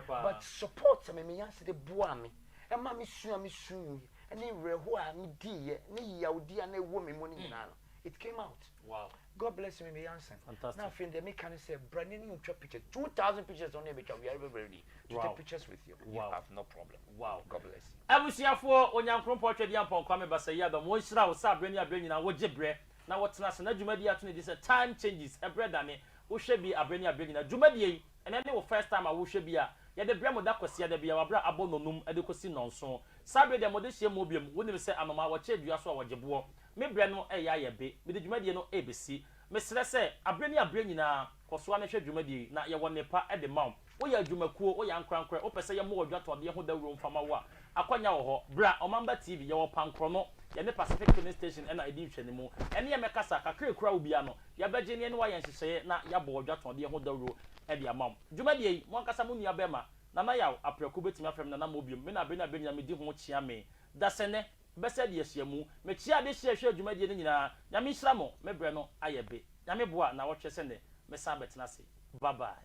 But support a me me Yansen de boa me ɛma me sua me su yi ɛne werɛho a me di yɛ ne yawdi a na ɛwɔ me mu ne nyinaa no. it came out wow god bless me meyɛ ansa na afei deɛ meka ne sɛ bra ne ne ntwa pictures 2000 pictures ɔne ɛbɛtwa we are ever ready to take pictures with you you have no problem wow god bless you abusuafoɔ onyankoropɔn twɛdeɛ ampɔn kwame basayi abam wɔnhyira wo sɛ aberɛ ne aberɛ nyinaa wogye berɛ na wotena ase na dwumadie ato ne din sɛ time changes ɛberɛ dane wohwɛ bi aberɛ ne aberɛ nyinaa dwumadie yi Ɛnɛ ne wo first time a wohwɛ bi a, yɛde brɛ mo da Kwasiada biara, wɔ bere a abɔ nnɔnnum de kosi nnɔnson. Saa bere deɛ mode hyia mu bio. Wonim sɛ anomaa, wɔkyere dua so a wɔgye boɔ. Me brɛ no reyɛ ayɛ be. Mede dwumadie no rebesi. Mesrɛ sɛ, abere ne abere nyinaa, kɔ so ara na hwɛ dwumadie yi, na yɛwɔ nnepa de ma wo. Woyɛ adwumakuo, woyɛ ankorankorɛ, wopɛ sɛ yɛmmɔ wo adwatɔdeɛ ho dawuro mfa ma wo a, Akwanya wɔ hɔ. Bra, Ɔmamba TV, yɛwɔ Pankrɔno, yɛne Pacific Filling Station na edi nhwɛanimu. Ɛne yɛn mmɛkasa, kakra a ekura wo biara no, yɛbɛgye na yɛne wo ayɛ nhyehyɛeɛ na yɛabɔ wo dwatɔɔdeɛ ho dawuro de ama wo. Dwumadie yi, mo ankasa mo nua bɛrima, Nana Yaw, Aprɛko bɛtumi afrɛ me Nana Mo biom, me na Abena Abena nyinaa medi ho kyea me. Dasɛnnɛ, bɛsɛ de ahyia mu. Mekyea adehyia a ɛhwɛɛ dwumadie no nyinaa. Nyame nhyira mo, me berɛ no ayɛ be. Nyame boa, naawɔtwe sɛ nnɛ, mɛsan abɛtena ase. Bye bye.